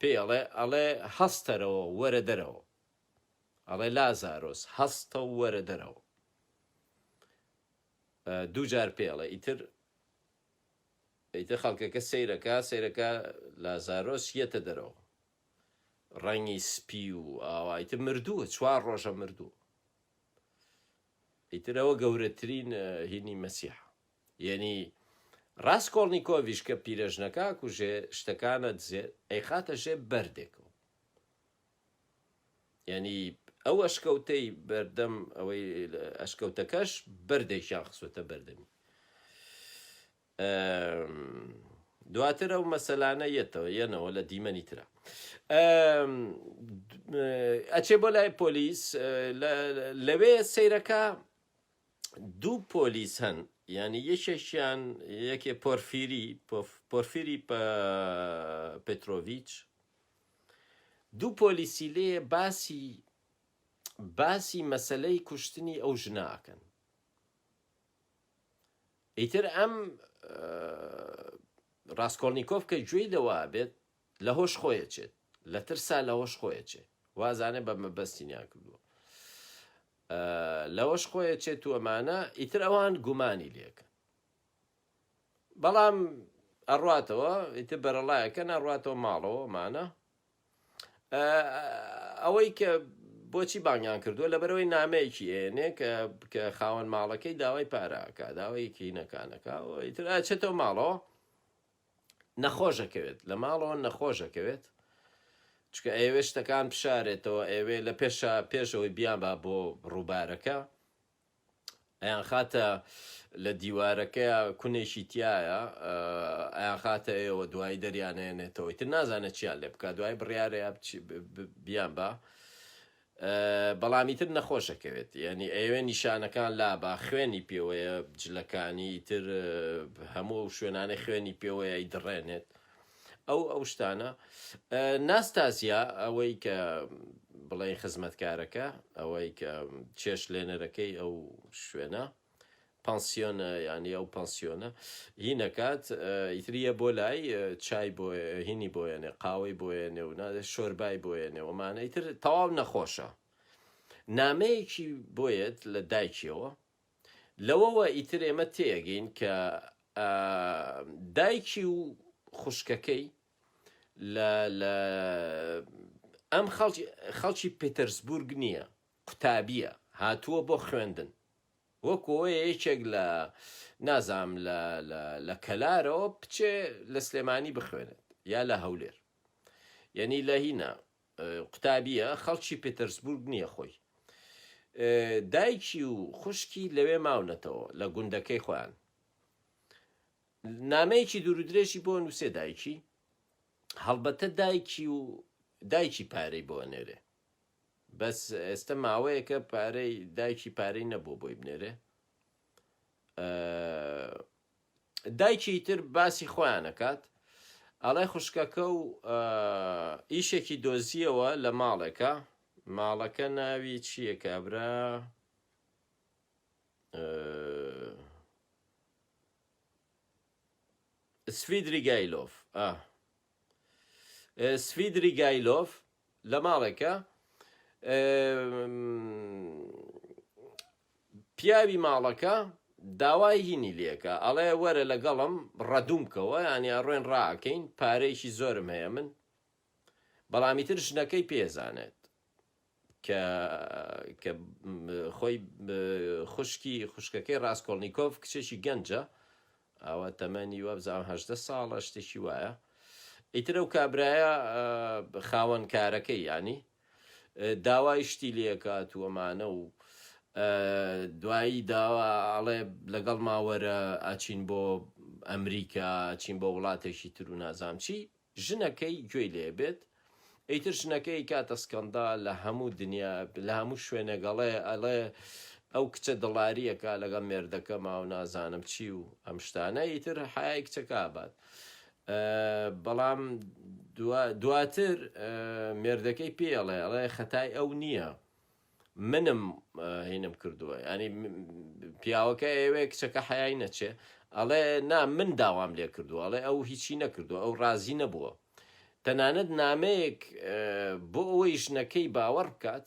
پێی ئەڵێ ئەڵێ هەستەرەوە وەرە دەرەوە ئەڵێ لازارۆس هەستە و وەرە دەرەوە دوو جار پێ ئەڵێ ئیتر ئیتر خەڵکەکە سەیرەکە سەیرەکە لازارۆس یەتە دەرەوە ڕەنگی سپی و ئاوایتە مردووە چوار ڕۆژە مردوو ئیترەوە گەورەترین هینی مەسیحە یەنی ڕاسکۆڵنیکۆڤیش کە پیرەژنەکە ئەکوژێ شتەکان ئەدزێ ئەیخاتە ژێ بەردێکەوە یەنی ئەو ئەشکەوتەی بەردەم ئەوەی ئەشکەوتەکەش بەردێکیان خسوەتە بەردەمی دواتر ئەو مەسەلانە یەتەوە یەنەوە لە دیمەنی تررا ئەچێ بۆ لای پۆلیس لەوێ سیرەکە دوو پۆلیس هەن یانی یەکێکیان یەکێ پۆرفیری پۆف- پۆرفیری پە- پێترۆڤیچ دوو پۆلیسی لێ باسی باسی مەسلەی کوشتنی ئەو ژنە ئەکەن ئیتر ئەم ڕاستکۆڵنییکۆف کە گوێی لەوە بێت لە هۆش خۆیە چێت لە ترسا لە هۆش خۆیە چێت وازانە بە مەبەستینیان کردووە لەوەش خۆی ئەچێ تووەمانە ئیتر ئەوان گومانی لێکەن بەڵام ئەڕاتەوە ئیتر بەرەڵایەکەن ئەڕاتەوە ماڵەوە مانە ئەوەی کە بۆچی بانگیان کردووە لەبەرەوەی نامەیەکی ئێنێ کە کە خاوەن ماڵەکەی داوای پاراکە داوایەکی نەکانەکە ئیتر ئەچێتەوە ماڵەوە نەخۆش ئەکەوێت لە ماڵەوە نەخۆش ئەکەوێت چکە ئەیەوێت شتەکان بشارێتەوە ئەوێ لە پێشا پێشەوەی بیانبا بۆ ڕووبارەکە ئەیان خاتە لە دیوارەکە کونێکی تایە ئەیان خاتە ئێوە دوای دەریانەیەنێتەوەی تر نازانێت چیان لێ بکە دوای بڕارەیە بیان بە بەڵام ئیتر نەخۆشە کەوێت یانی ئەیەوێ نیشانەکان لابا خوێنی پێوەیە جلەکانی ئیتر هەموو ئەو شوێنانەی خوێنی پێوەیە ئەیدڕێنێت ئەو ئەو شتانە ناستازیا ئەوەی کە بڵێ خزمەتکارەکە ئەوەی کە چێش لێنەرەکەی ئەو شوێنە پانسیۆنە یانی ئەو پانسیۆنە هینەکات ئیتری یە بۆ لای چای بۆ هینی بۆیەێ قاوەی بۆیە نێو نادە شۆربای بۆیە نێوەمانە ئیتر تەواو نەخۆشە نامەیەکی بۆیەت لە دایکیەوە لەوەوە ئیتر ئێمە تێگەین کە دایکی و خوشکەکەی لە ئەم خەڵکی پتەرسبورگ نییە قوتابیە هاتووە بۆ خوێندن وەکو وەیە یەکێک لە نازانم لە لە لە کەلارەوە بچێ لە سلێمانی بخوێنێت یا لە هەولێر یەنی لە هینا قوتابیە خەڵکی پترسبورگ نییە خۆی دایکی و خوشکی لەوێ ماونەتەوە لە گوندەکەی خۆیان نامەیەکی دوورودرێژی بۆ نووسێ دایکی هەڵبەتە دایکی و دایکی پارەی بۆ نێرێ بەس ئێستە ماوەیەکە پارەی دایکی پارەی نەبوو بۆی بنێرێ دایکی تر باسی خۆیانەکات ئەڵێ خوشکەکە و ئیشێکی دۆزیەوە لە ماڵێکە ماڵەکە ناوی چییە کابرا سفیدری گایلۆف سفیدری گایلۆف لە ماڵێکە پیاوی ماڵەکە داوای هینی لەکە ئەڵێ وەرە لەگەڵم ڕەدوم بکەوە ینی ئەڕۆێن ڕاکەین پارەیەکی زۆرم هەیە من بەڵامی تر ژنەکەی پێزانێت کە کە خۆی خوشکی خوشکەکەی ڕاستکۆڵنییکۆف کچێکی گەنجە ئاوا تەمەنی وابزانم هەژدە ساڵە شتێکی وایە ئیتر ئەو کابرایە خاوەن کارەکەی یانی داوای شتی لێکات و ئەمانە و دوایی داوا ئاڵێ لەگەڵ ماوەرە ئاچین بۆ ئەمریکا چین بۆ وڵاتێکی تر و نازام چی ژنەکەی گوێی لێ بێت ئیتر ژنەکەی ئەیکاتە سکەندا لە هەموو دنیا لە هەموو شوێنێک ئەڵێ ئەڵێ ئەو کچە دڵاری ئەکا لەگەڵ مێردەکەما و نازانم چی و ئەم شتانە ئیتر حەیای کچەکە ئابات بەڵام دواتر مێردەکەی پێڵێ ئەڵێ خەتای ئەو نییە منم هینم کردوە ینی پیاوەکە ئێوێ کچەکە حیای نەچێ ئەڵێ نا من داوام لێ کردو ئەڵێ ئەو هیچی نەکردو ئەو ڕازی نەبووە تەنانەت نامەیەک بۆ ئەوەی ژنەکەی باوەڕ بکات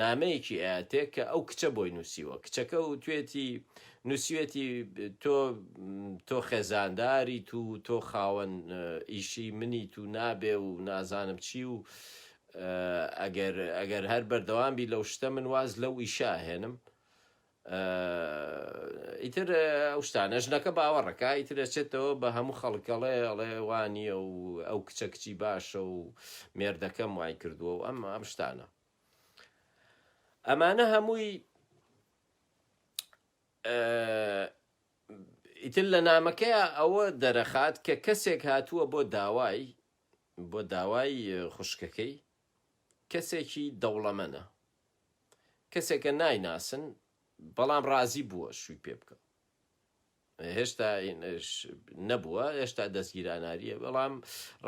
نامەیەکی ئاەتێک کە ئەو کچە بۆی نووسیوە کچەکە و توێتی نووسوێتی تۆ تۆ خێزانداری تو تۆ خاوەن ئیشی منی تو نابێ و نازانم چی و ئەگەر ئەگەر هەر بەردەوام بی لەو شتە من واز لەو ئیشە ئەهێنم ئیتر ئەو شتانە ژنەکە باوەڕەکە ئیتر ئەچێتەوە بە هەموو خەڵکەڵێ ئەڵێ وانیە و ئەو کچە کچی باشە و مێردەکەم وای کردووە و ئەم ئەم شتانە ئەمانە هەمووی ئیتر لە نامەکەی ئەوە دەرەخات کە کەسێک هاتووە بۆ داوای بۆ داوای خوشکەکەی کەسێکی دەوڵەمەنە کەسێکە نایناسن بەڵام ڕازی بووە شووی پێ بکە هێشتا نەبووە هێشتا دەستگیراناریە بەڵام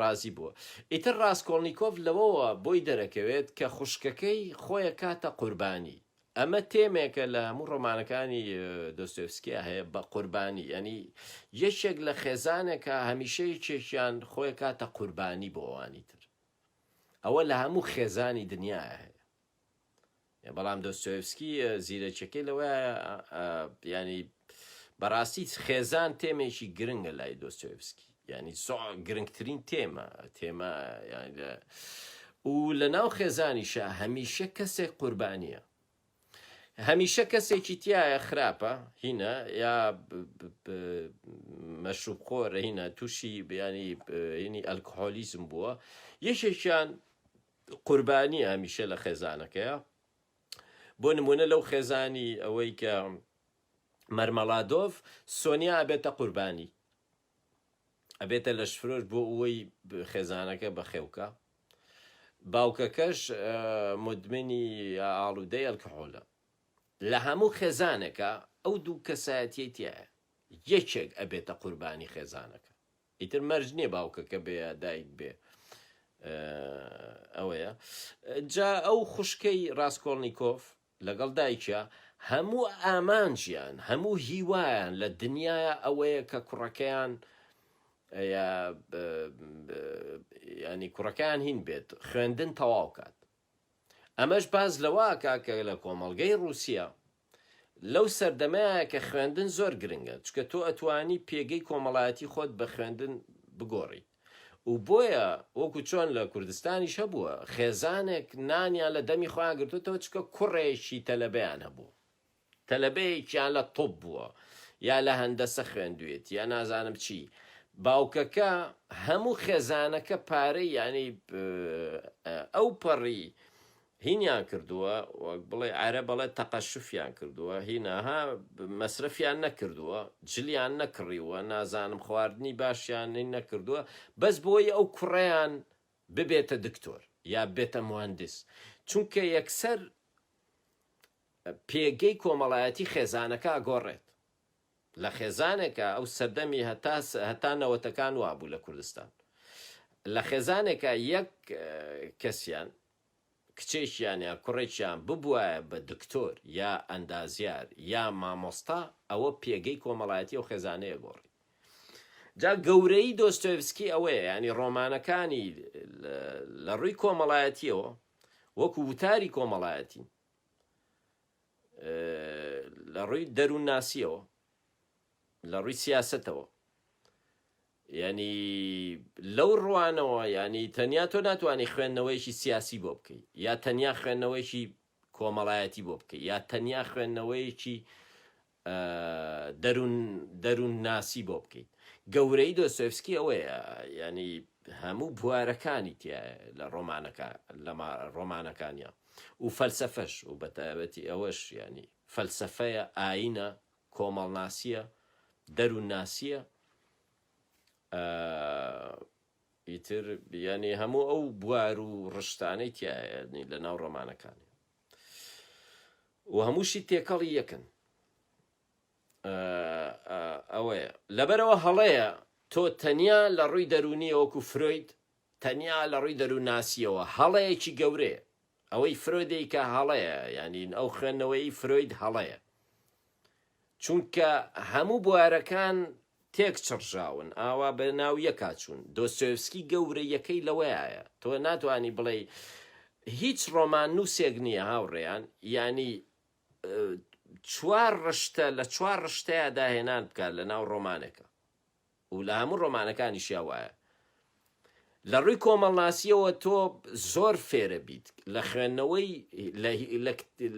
ڕازی بووە ئیتر ڕاستکۆڵنییکۆف لەوەوە بۆی دەرەکەوێت کە خوشکەکەی خۆیە کاتە قوربانی ئەمە تێمێکە لە هەموو ڕۆمانەکانی دۆستۆیفسکیا هەیە بە قوربانی یعنی یەکێک لە خێزانێکە هەمیشە یەکێکیان خۆی کاتە قوربانی بۆ ئەوانی تر ئەوە لە هەموو خێزانی دنیا هەیە بەڵام دۆستۆیفسکی زیرەکیەکەی لەوە ینی بەڕاستی خێزان تێمێکی گرنگە لای دۆستۆیفسکی یانی سوع گرنگترین تێمە تێمە یانی لە و لە ناو خێزانیشە هەمیشە کەسێک قوربانیە هەمیشە کەسێکی تایە خراپە هینە یا مەشوب خۆرە هینە تووشی بیانی هینی ئەلکهۆلیزم بووە یەکێکیان قوربانی هەمیشە لە خێزانەکەیە بۆ نمونە لەو خێزانی ئەوەی کە مەرمەڵادۆڤ سۆنیا بێتە قوربانی ئەبێتە لەشفرۆش بۆ ئوەی خێزانەکە بەخێوکا باوکەکەش مدمنی ئاڵودەی ئەلکحۆلە لەهەموو خێزانێکا ئەو دوو کەسایەتیەی تیایە یەکێک ئەبێتە قوربانی خێزانەکە ئیتر مەرج نییە باوکەکە بێ یا دایک بێ ئەوەیە جا ئەو خوشکەی ڕاستکۆڵنییکۆف لەگەڵ دایکیا هەموو ئامانجیان هەموو هیوایان لە دنیایا ئەوەیە کە کوڕەکەیان یا یانی کوڕەکەیان هین بێت خوێندن تەواو کات ئەمەش باز لەواکە کە لە کۆمەڵگەی ڕووسیا لەو سەردەمەیە کە خوێندن زۆر گرنگە چکە تۆ ئەتوانی پێگەی کۆمەڵایەتی خۆت بە خوێندن بگۆڕیت و بۆیە وەکو چۆن لە کوردستانیش هەبووە خێزانێک نانیان لە دەمی خۆیان گرتووتەوە چونکە کوڕێکی تەلەبەیان هەبوو تەلەبەیەکیان لە طوب بووە یا لە هەندەسە خوێندوێت یا نازانم چی باوکەکە هەموو خێزانەکە پارەی یعنی ئەوپەڕی هینیان کردووە وەک بڵێی عەرە بەڵێ تەقەشفیان کردووە هینا ها مەسرەفیان نەکردووە جلیان نەکڕیووە نازانم خواردنی باشیان هین نەکردووە بەس بۆیی ئەو کوڕەیان ببێتە دکتۆر یا بێتە موهەندس چونکە یەکسەر پێگەی کۆمەڵایەتی خێزانەکە گۆڕێت لە خێزانێکە ئەو سەردەمی هەتا هەتا نەوەتەکان وابوو لە کوردستان لە خێزانێکە یەک کەسیان کچێکیان یا کوڕێکیان ببوایە بە دکتۆر یا ئەندازیار یا مامۆستا ئەوە پێگەی کۆمەڵایەتی ئەو خێزانەیە گۆڕی جا گەورەی دۆستۆیڤسکی ئەوەیە یانی ڕۆمانەکانی لە ڕووی کۆمەڵایەتیەوە وەکو وتاری کۆمەڵایەتی لە ڕووی دەروون ناسیەوە لە ڕووی سیاستەوە یانی لەو ڕوانەوە یانی تەنیا تۆ ناتوانی خوێندنەوەیەکی سیاسی بۆ بکەی یا تەنیا خوێندنەوەیەکی کۆمەڵایەتی بۆ بکەی یا تەنیا خوێندنەوەیەکی دەروون دەروون ناسی بۆ بکەیت گەورەی دۆسۆفسکی ئەوەیە ینی هەموو بوارەکانی تیا لە ڕۆمانەکە لە ڕۆمانەکانیان و فەلسفەش و بەتابەتی ئەوەش ینی فەلسفەیە ئاینە کۆمەڵناسیە دەرون ناسیە ئە ئیتر یانی هەموو ئەو بوار و ڕشتانەی تایە نی لە ناو ڕۆمانەکانی و هەمووشی تێکەڵی یەکن ئە ئە ئەوەیە لەبەرەوە هەڵەیە تۆ تەنیا لە ڕووی دەرونیە وەکو فرۆید تەنیا لە ڕووی دەروونناسییەوە هەڵەیەکی گەورەیە. ئەوەی فرۆیدیکا هەڵەیە، یانین ئەو خوێندنەوەیەی فرۆید هەڵەیە. چونکە هەموو بوارەکان تێک چڕژاون، ئاوا بە ناو یەکا چوون. دۆستۆیڤسکی گەورەییەکەی لەوەیایە، تۆ ناتوانی بڵێی هیچ ڕۆماننووسێک نییە هاوڕێیان، یانی چوار ڕشتە لە چوار ڕشتەیا داهێنان بکات لە ناو ڕۆمانێکا. و لە هەموو ڕۆمانەکانیشیا وایە. لە ڕووی کۆمەڵناسییەوە تۆ زۆر فێرە بیت لە خوێندنەوەی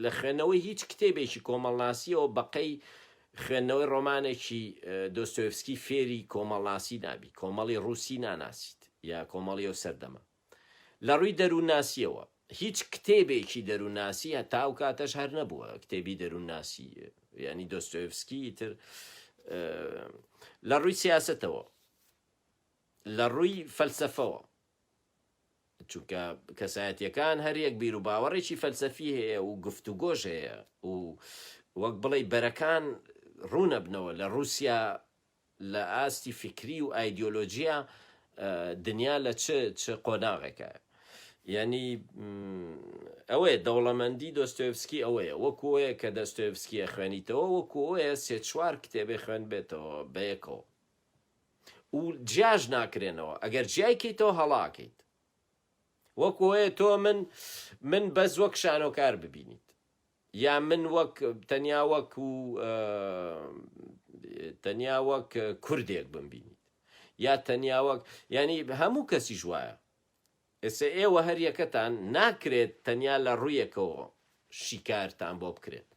لە خوێندنەوەی هیچ کتێبێکی کۆمەڵناسییەوە بەقەی خوێندنەوەی ڕۆمانێکی دۆستۆیڤسکی فێری کۆمەڵناسی نابی، کۆمەڵی ڕووسی ناناسیت یا کۆمەڵی ئەو سەردەمە. لە ڕووی دەروونناسییەوە، هیچ کتێبێکی دەروونناسی هەتا ئەو کاتەش هەر نەبووە، کتێبی دەروونناسی، یانی دۆستۆیڤسکی، تر. لە ڕووی سیاسەتەوە، لە ڕووی فەلسەفەوە، چونکە کەسایەتییەکان هەر یەک بیروباوەڕێکی فەلسەفی هەیە و گفتوگۆش هەیە و وەک بڵێی بەرەکان ڕوو نەبنەوە، لە ڕووسیا لە ئاستی فیکری و ئایدیۆلۆجیا دنیا لە چ چ قۆناغێکە؟ یانی ئەوەیە دەوڵەمەندی دۆستۆیڤسکی ئەوەیە وەکو ئەوەیە کە دەستۆیڤسکی ئەخوێنیتەوە وەکو ئەوەیە سێ چوار کتێبی خوێندبێتەوە بەیەکەوە و جیاش ناکرێنەوە ئەگەر جیای کەیتەوە هەڵا ئەکەیت وەکو ئەوەیە تۆ من من بەس وەک شانۆکار ببینیت یان من وەک تەنیا وەک و تەنیا وەک کوردێک بمبینیت یا تەنیا وەک یانی هەموو کەسیش وایە ئێستا ئێوە هەر یەکەتان ناکرێت تەنیا لە ڕوویەکەوە شیکارتان بۆ بکرێت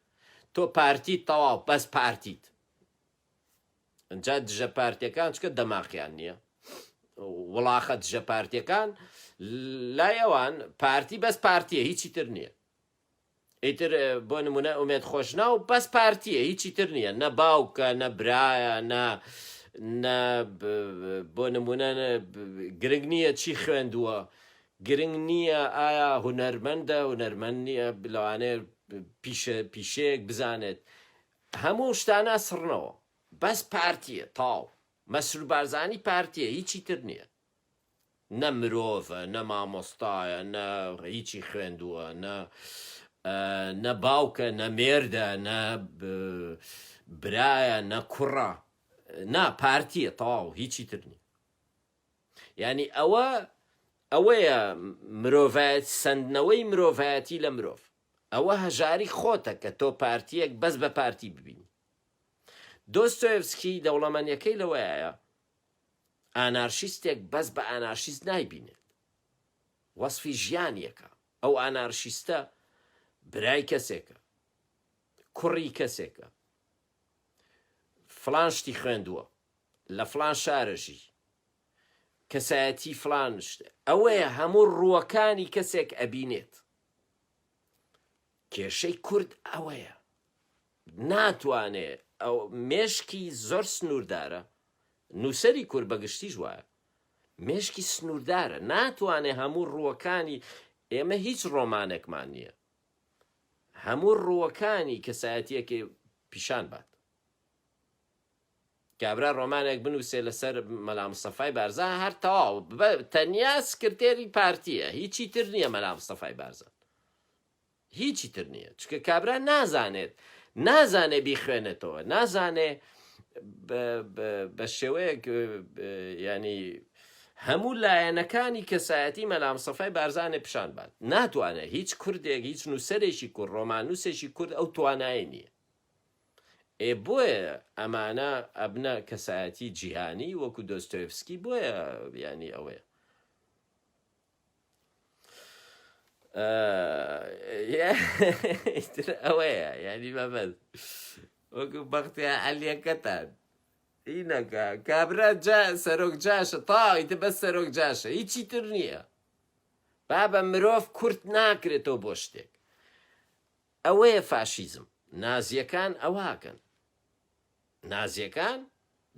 تۆ پارتیت تەواو بەس پارتیت ئەجا دژە پارتیەکان چکە دەماقیان نییە وڵاخە دژە پارتیەکان لای ئەوان پارتی بەس پارتیە هیچی تر نییە ئیتر بۆ نمونە ئومێد خۆشناو بەس پارتیە هیچی تر نییە نە باوکە نە برایە نە نە بۆ نمونە گرنگ نییە چی خوێندووە گرنگ نییە ئایا هونەرمەندە هونەرمەند نییە بلوانێ پیشە پیشەیەک بزانێت هەموو شتانە سڕنەوە بەس پارتیە تاو مەسرور بارزانانی پارتیە هیچی تر نییە نە مرۆڤە نە مامۆستایە نە هیچی خوێندووە نە نە باوکە نە مێردە نە برایە نە کوڕە نا پارتیە تەواو هیچی ترنی ینی ئەوە ئەوەیە مرۆڤایەت سندنەوەی مرۆڤایەتی لە مرۆڤ ئەوە هەژاری خۆتە کە تۆ پارتیەک بەس بە پارتی ببین دۆستۆفسکی دەوڵەمەنیەکەی لەوەیە ئانارشیستێک بەس بە ئانارشیست نایبینێت وەسفی ژیانیەکە ئەو ئانارشیستە برای کەسێکە کوڕی کەسێکە فلان شتی خوێندووە لە فلان شارەژی کەسایەتی فلان شتە ئەوەیە هەموو ڕووەکانی کەسێک ئەبینێت کێشەی کورد ئەوەیە ناتوانێ ئەو مێشکی زۆر سنووردارە، نووسەری کورد بە گشتیش وایە، مێشکی سنووردارە، ناتوانێ هەموو ڕووەکانی، ئێمە هیچ ڕۆمانێکمان نییە هەموو ڕووەکانی کەسایەتییەکێ پیشان بات. کابرا ڕۆمانێک بنووسێ لەسەر مەلا مستەفای بارزان هەر تەواو تەنیا سکرتێری پارتییە، هیچی تر نییە مەلا مستەفای بارزان. هیچی تر نیە چکە کابرا نازانێت نازانێ بیخوێنێتەوە نازانێ بەشێوەیەک ینی هەموو لایەنەکانی کەسایەتی مەلام سەفای بارزانێ پیشان بات ناتوانێت هیچ کوردێک هیچ نووسەرێکی کورد ڕۆمانوسێکی کورد ئەو توانای نییە ئێ بۆیە ئەمانە ئەبنە کەسایەتی جیهانی وەکو دۆستۆفسکی بۆیە ینی ئەوەیە ئەوەیە یانی مەبەست وەکو بەختیا عەلیەکەتان ئینەکە کابرا جا سەرۆک جاشە تاویتە بەس سەرۆک جاشە هیچی تر نییە بابە مرۆڤ کورت ناکرێتەوە بۆ شتێک ئەوەیە فاشیزم نازیەکان ئەوهاکەن نازیەکان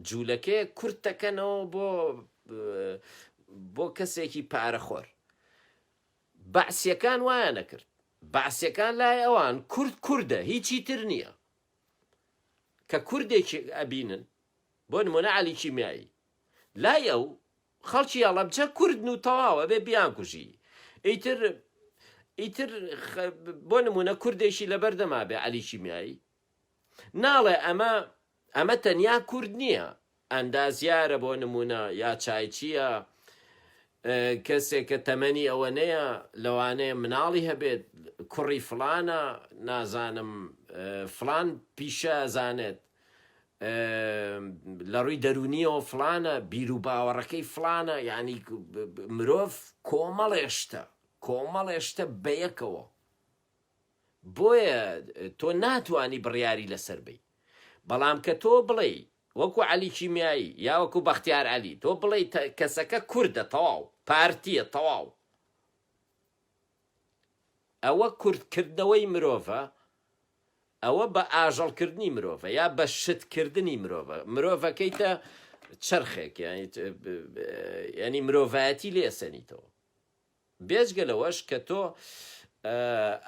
جولەکەیەک کورت دەکەنەوە بۆ بۆ کەسێکی پارە خۆر بەعسیەکان وایە نەکرد بەعسیەکان لای ئەوان کورد کوردە هیچی تر نییە کە کوردێکی ئەبینن بۆ نمونە علی کیمیایی لای ئەو خەڵکی ئەڵەبجە کوردن و تەواوە بێ بیان کوژی ئیتر ئیتر بۆ نمونە کوردێکی لەبەردەما بێ علی کیمیایی ناڵێ ئەمە ئەمە تەنیا کورد نییە ئەندازیارە بۆ نمونە یا چایچییە کەسێک کە تەمەنی ئەوەنەیە لەوانەیە مناڵی هەبێت کوڕی فلانە نازانم فلان پیشە زانێت لە ڕووی دەرونیەوە فلانە بیر و باوەڕەکەی فلانە یعنی مرۆڤ کۆمەڵێشتە کۆمەڵێشتە بەیەکەوە بۆیە تۆ ناتوانی بڕیاری لەسەر بەی بەڵام کە تۆ بڵێی وەکو عەلی کیمیایی یا وەکو بەختیار عەلی تۆ بڵێی کەسەکە کوردە تەواو پارتیە تەواو ئەوە کورد کردنەوەی مرۆڤە ئەوە بە ئاژەڵ کردنی مرۆڤە یا بە شت کردنی مرۆڤە مرۆڤەکەیتە چرخێک ینی مرۆڤایەتی لێسەنیتەوە بێجگە لەوەش کە تۆ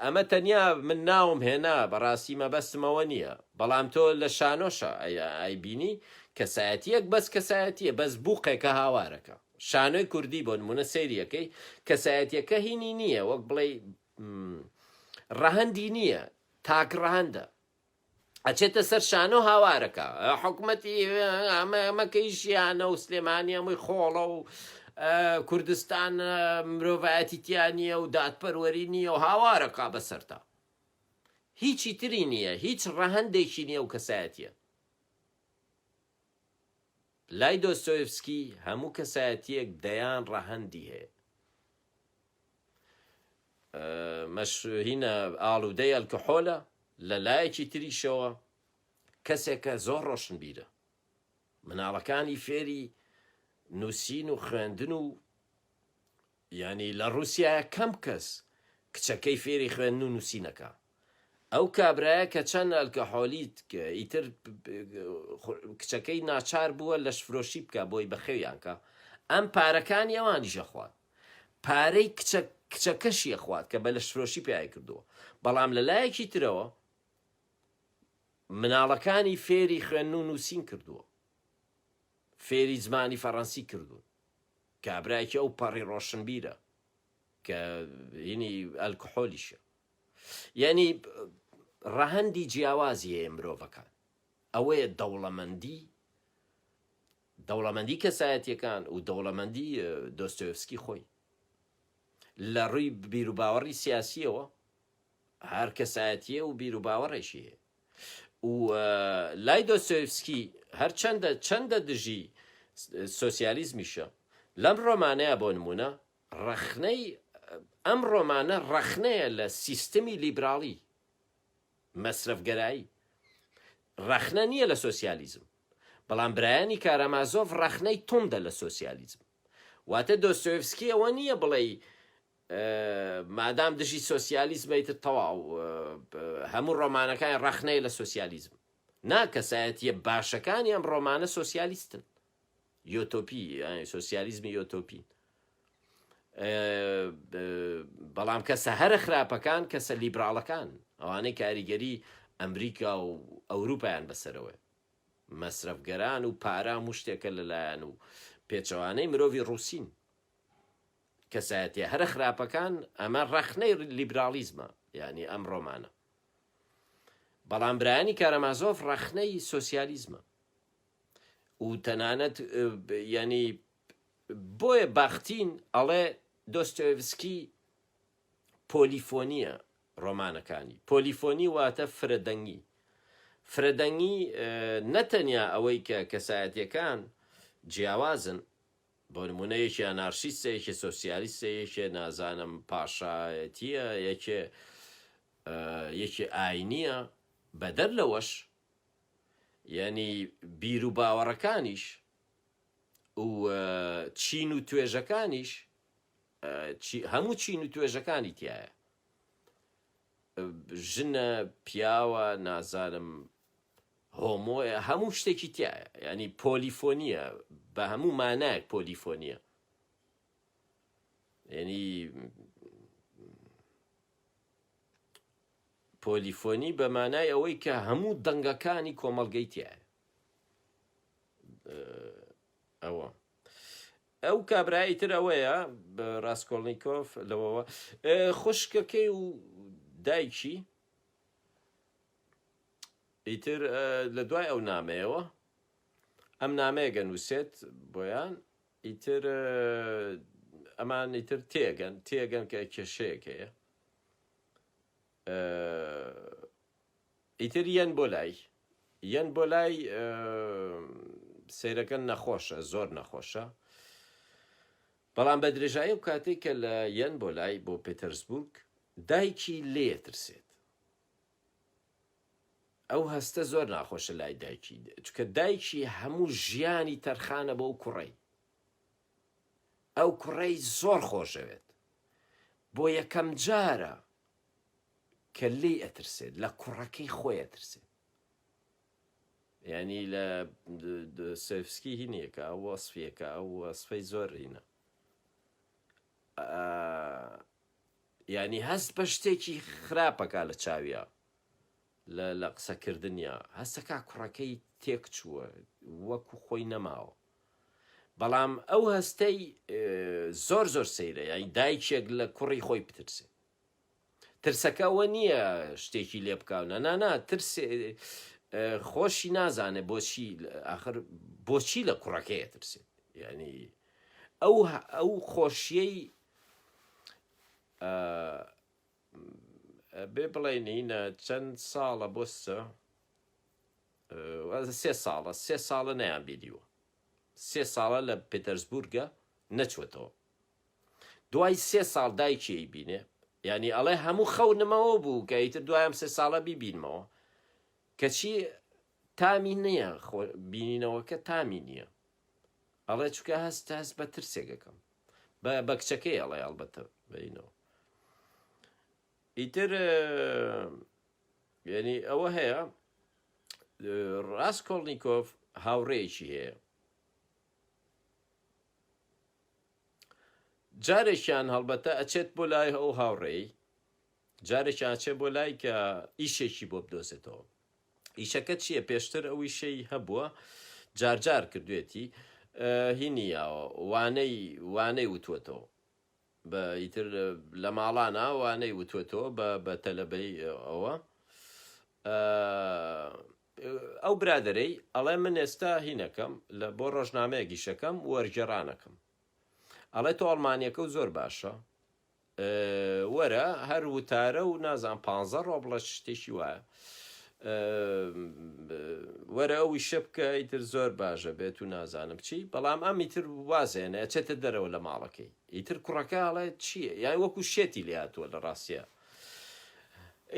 ئەمە تەنیا من ناوم هێنا بەڕاستی مەبەستم ئەوە نییە بەڵام تۆ لە شانۆشە ئەی بینی کەسایەتیەک بەس کەسایەتیە بەس بوقێکە هاوارەکە شانۆی کوردی بۆ نمونە سریەکەی کەسایەتیەکە هینی نییە وەک بڵێ ڕەهەندی نییە تاک ڕەهەندە ئەچێتە سەر شانۆ هاوارەکە حکومەتی مەکەیشیانە و سلێمانی ئەمەی خۆڵە و کوردستان مرۆڤایەتی تیانە و دادپەروەری نیە و هاوارەکە بەسەرتا هیچی تری نییە هیچ ڕەهندێکی نیە و کەسایەتە لای دۆستۆیفسکی هەموو کەسایەتیەک دەیان ڕەهندی هەیە مەشروهینە ئاڵودەی ئەلکحۆلە، لە لایەکی تریشەوە کەسێکە زۆر ڕۆشنبیرە، مناڵەکانی فێری نووسین و خوێندن و یانی لە ڕووسیایە کەم کەس کچەکەی فێری خوێندن و نووسین ئەکا، ئەو کابرایە کە چەند ئەلکەحۆلیت ئیتر کچەکەی ناچار بووە لەشفرۆشی بکا بۆی بەخێویان کا ئەم پارەکانی ئەوانیش ئەخوات پارەی کچە کچەکەشی ئەخوات کە بە لەشفرۆشی پیاوی کردووە بەڵام لە لایەکی ترەوە مناڵەکانی فێری خوێن و نووسین کردووە فێری زمانی فەڕەنسی کردوون کابراکی ئەو پەڕی ڕۆشنبیرە کە ینی ئەلکحۆلیشە یانی ڕەهەندی جیاوازی هەیە مرۆڤەکان ئەوەیە دەوڵەمەندی دەوڵەمەندی کەسایەتیەکان و دەوڵەمەندی دۆستۆفسکی خۆی لە ڕووی بیروباوەڕی سیاسیەوە هەر کەسایەتیە و بیروباوەڕێکی هەیە و لای دۆستۆفسکی هەرچەندە چەندە دژی سوسیالیزمیشە لەم ڕۆمانەیە بۆ نمونە ڕەخنەی ئەم ڕۆمانە ڕەخنەیە لە سیستمی لیبراڵی مەسرەفگەرایی، ڕەخنە نییە لە سۆسیالیزم، بەڵام برایانی کارامازۆف ڕەخنەی توندە لە سۆسیالیزم. واتە دۆستۆیڤسکی ئەوە نییە بڵێی مادام دژی سۆسیالیزمە ئیتر تەواو هەموو ڕۆمانەکانی ڕەخنەیە لە سۆسیالیزم. نا کەسایەتییە باشەکانی ئەم ڕۆمانە سۆسیالیستن. یۆتۆپی یانی سۆسیالیزمی یۆتۆپی بەڵام کەسە هەرە خراپەکان کەسە لیبراڵەکان ئەوانەی کاریگەری ئەمریکا و ئەوروپایان بەسەرەوە مەسرفگەران و پارام و شتێکە لەلایەن و پێچەوانەی مرۆڤی ڕوسین کەسایەتی هەرە خراپەکان ئەمە ڕەخنەی لیبراڵیزمە یعنی ئەم ڕۆمانە بەڵام برانی کارەمازۆف ڕەخنەی سوسیالیزمە و تەنانەت یانی بۆیە باختین ئەڵێ دۆستۆیڤسکی پۆلیفۆنیە ڕۆمانەکانی پۆلیفۆنی واتە فرەدەنگی فرەدەنگی نەتەنیا ئەوەی کە کەسایەتەکان جیاوازن بۆ نمونە یەکێ نارسیستە یەکێ سۆسیالیستە یەکێ نازانم پاشایەتیە یەکێ یەکێ ئاینیە بەدەر لەوەش یەنی بیر و باوەڕەکانیش و چین و توێژەکانیش هەموو چین و توێژەکانی تایە ژنە پیاوە نازانم هۆمۆە هەموو شتێکی تایە ینی پۆلیفۆنیە بە هەموو مانایەک پۆلیفۆنیە ینی پۆلیفۆنی بە مانای ئەوەی کە هەموو دەنگەکانی کۆمەڵگەی تیایە. ئەوە ئەو کابرای تر ئەوەیە ڕاستکۆڵنییکۆف لەوەوە خوشکەکەی و دایکی ئیتر لە دوای ئەو نامەیەوە ئەم نامەیەگە نووسێت بۆیان ئیتر ئەمان ئیتر تێگەن تێگەن کە کێشەیەکەیە ئیتر یەن بۆ لای یەن بۆ لای سەیرەکە نەخۆشە زۆر نەخۆشە بەڵام بە درێژایی و کاتێک کە لە یەن بۆ لای بۆ پێتەرسبورگ دایکی لێ ترسێت ئەو هەستە زۆر ناخۆشە لای دایکی چکە دایکی هەموو ژیانی تەرخانە بۆ کوڕی ئەو کوڕەی زۆر خۆشەوێت بۆ یەکەم جارە کە لێی ئەترسێت لە کوڕەکەی خۆی ئەترسێت یعنی لە سفسکی هینیەکە ئەو وەصفیەکە ئەو وەصفەی زۆر رینە یعنی هەست بە شتێکی خراپەکە لە چاویە لە لە قسەکردنیا هەستەکە کوڕەکەی تێک چووە وەکو خۆی نەماوە بەڵام ئەو هەستەی زۆر زۆر سەیرە یای دایکێک لە کوڕی خۆی بترسێ ترسەکە ئەوە نییە شتێکی لێ بکاونە نانا ترس خۆشی نازانێ بۆچی آخر بۆچی لە کوڕەکەی ترسێت یعنی ئەو ئەو خۆشیەی بێ بڵێنینە چەند ساڵە بۆستە واتە سێ ساڵە سێ ساڵە نەیانبینیوە سێ ساڵە لە پێتەرزبورگە نەچۆتەوە دوای سێ ساڵ دایکی ئەیبینێ یانی ئەڵێ هەموو خەونمەوە بوو کە ئیتر دوای ئەم سێ ساڵە بیبینمەوە کەچی تامی نییە خۆ بینینەوەکە تامی نییە ئەڵێ چکە هەست هەست بە ترسێکەکەم بە بە کچەکەی ئەڵێ ئەڵبەتە بینەوە ئیتر یەنی ئەوە هەیە ڕاستکۆڵنییکۆف هاوڕێیەکی هەیە جارێکیان هەڵبەتە ئەچێت بۆ لای ئەو هاوڕێی جارێکیان چێ بۆ لای کە ئیشێکی بۆ بدۆزێتەوە ئیشەکە چییە پێشتر ئەو ئیشەی هەبووە جارجار کردوێتی هینیاوە وانەی وانەی وتوەتەوە بە ئیتر لە ماڵانا وا نەی وتوەتەوە بە بە تەلەبەی ئەوە ئە ئەو برادەرەی ئەڵێ من ئێستا هینەکەم لە بۆ ڕۆژنامەیەک ئیشەکەم وەرگێڕانەکەم ئەڵێ تۆ ئەڵمانیەکە و زۆر باشە وەرە هەر وتارە و نازان پانزە ڕۆبڵە شتێکی وایە وەرە ئەو ئیشە بکە ئیتر زۆر باش ئەبێت و نازانم چی، بەڵام ئەم ئیتر واز هێنێ ئەچێتە دەرەوە لە ماڵەکەی، ئیتر کوڕەکە ئەڵێ چییە یان وەکو شێتی لێهاتووە لە ڕاستیا.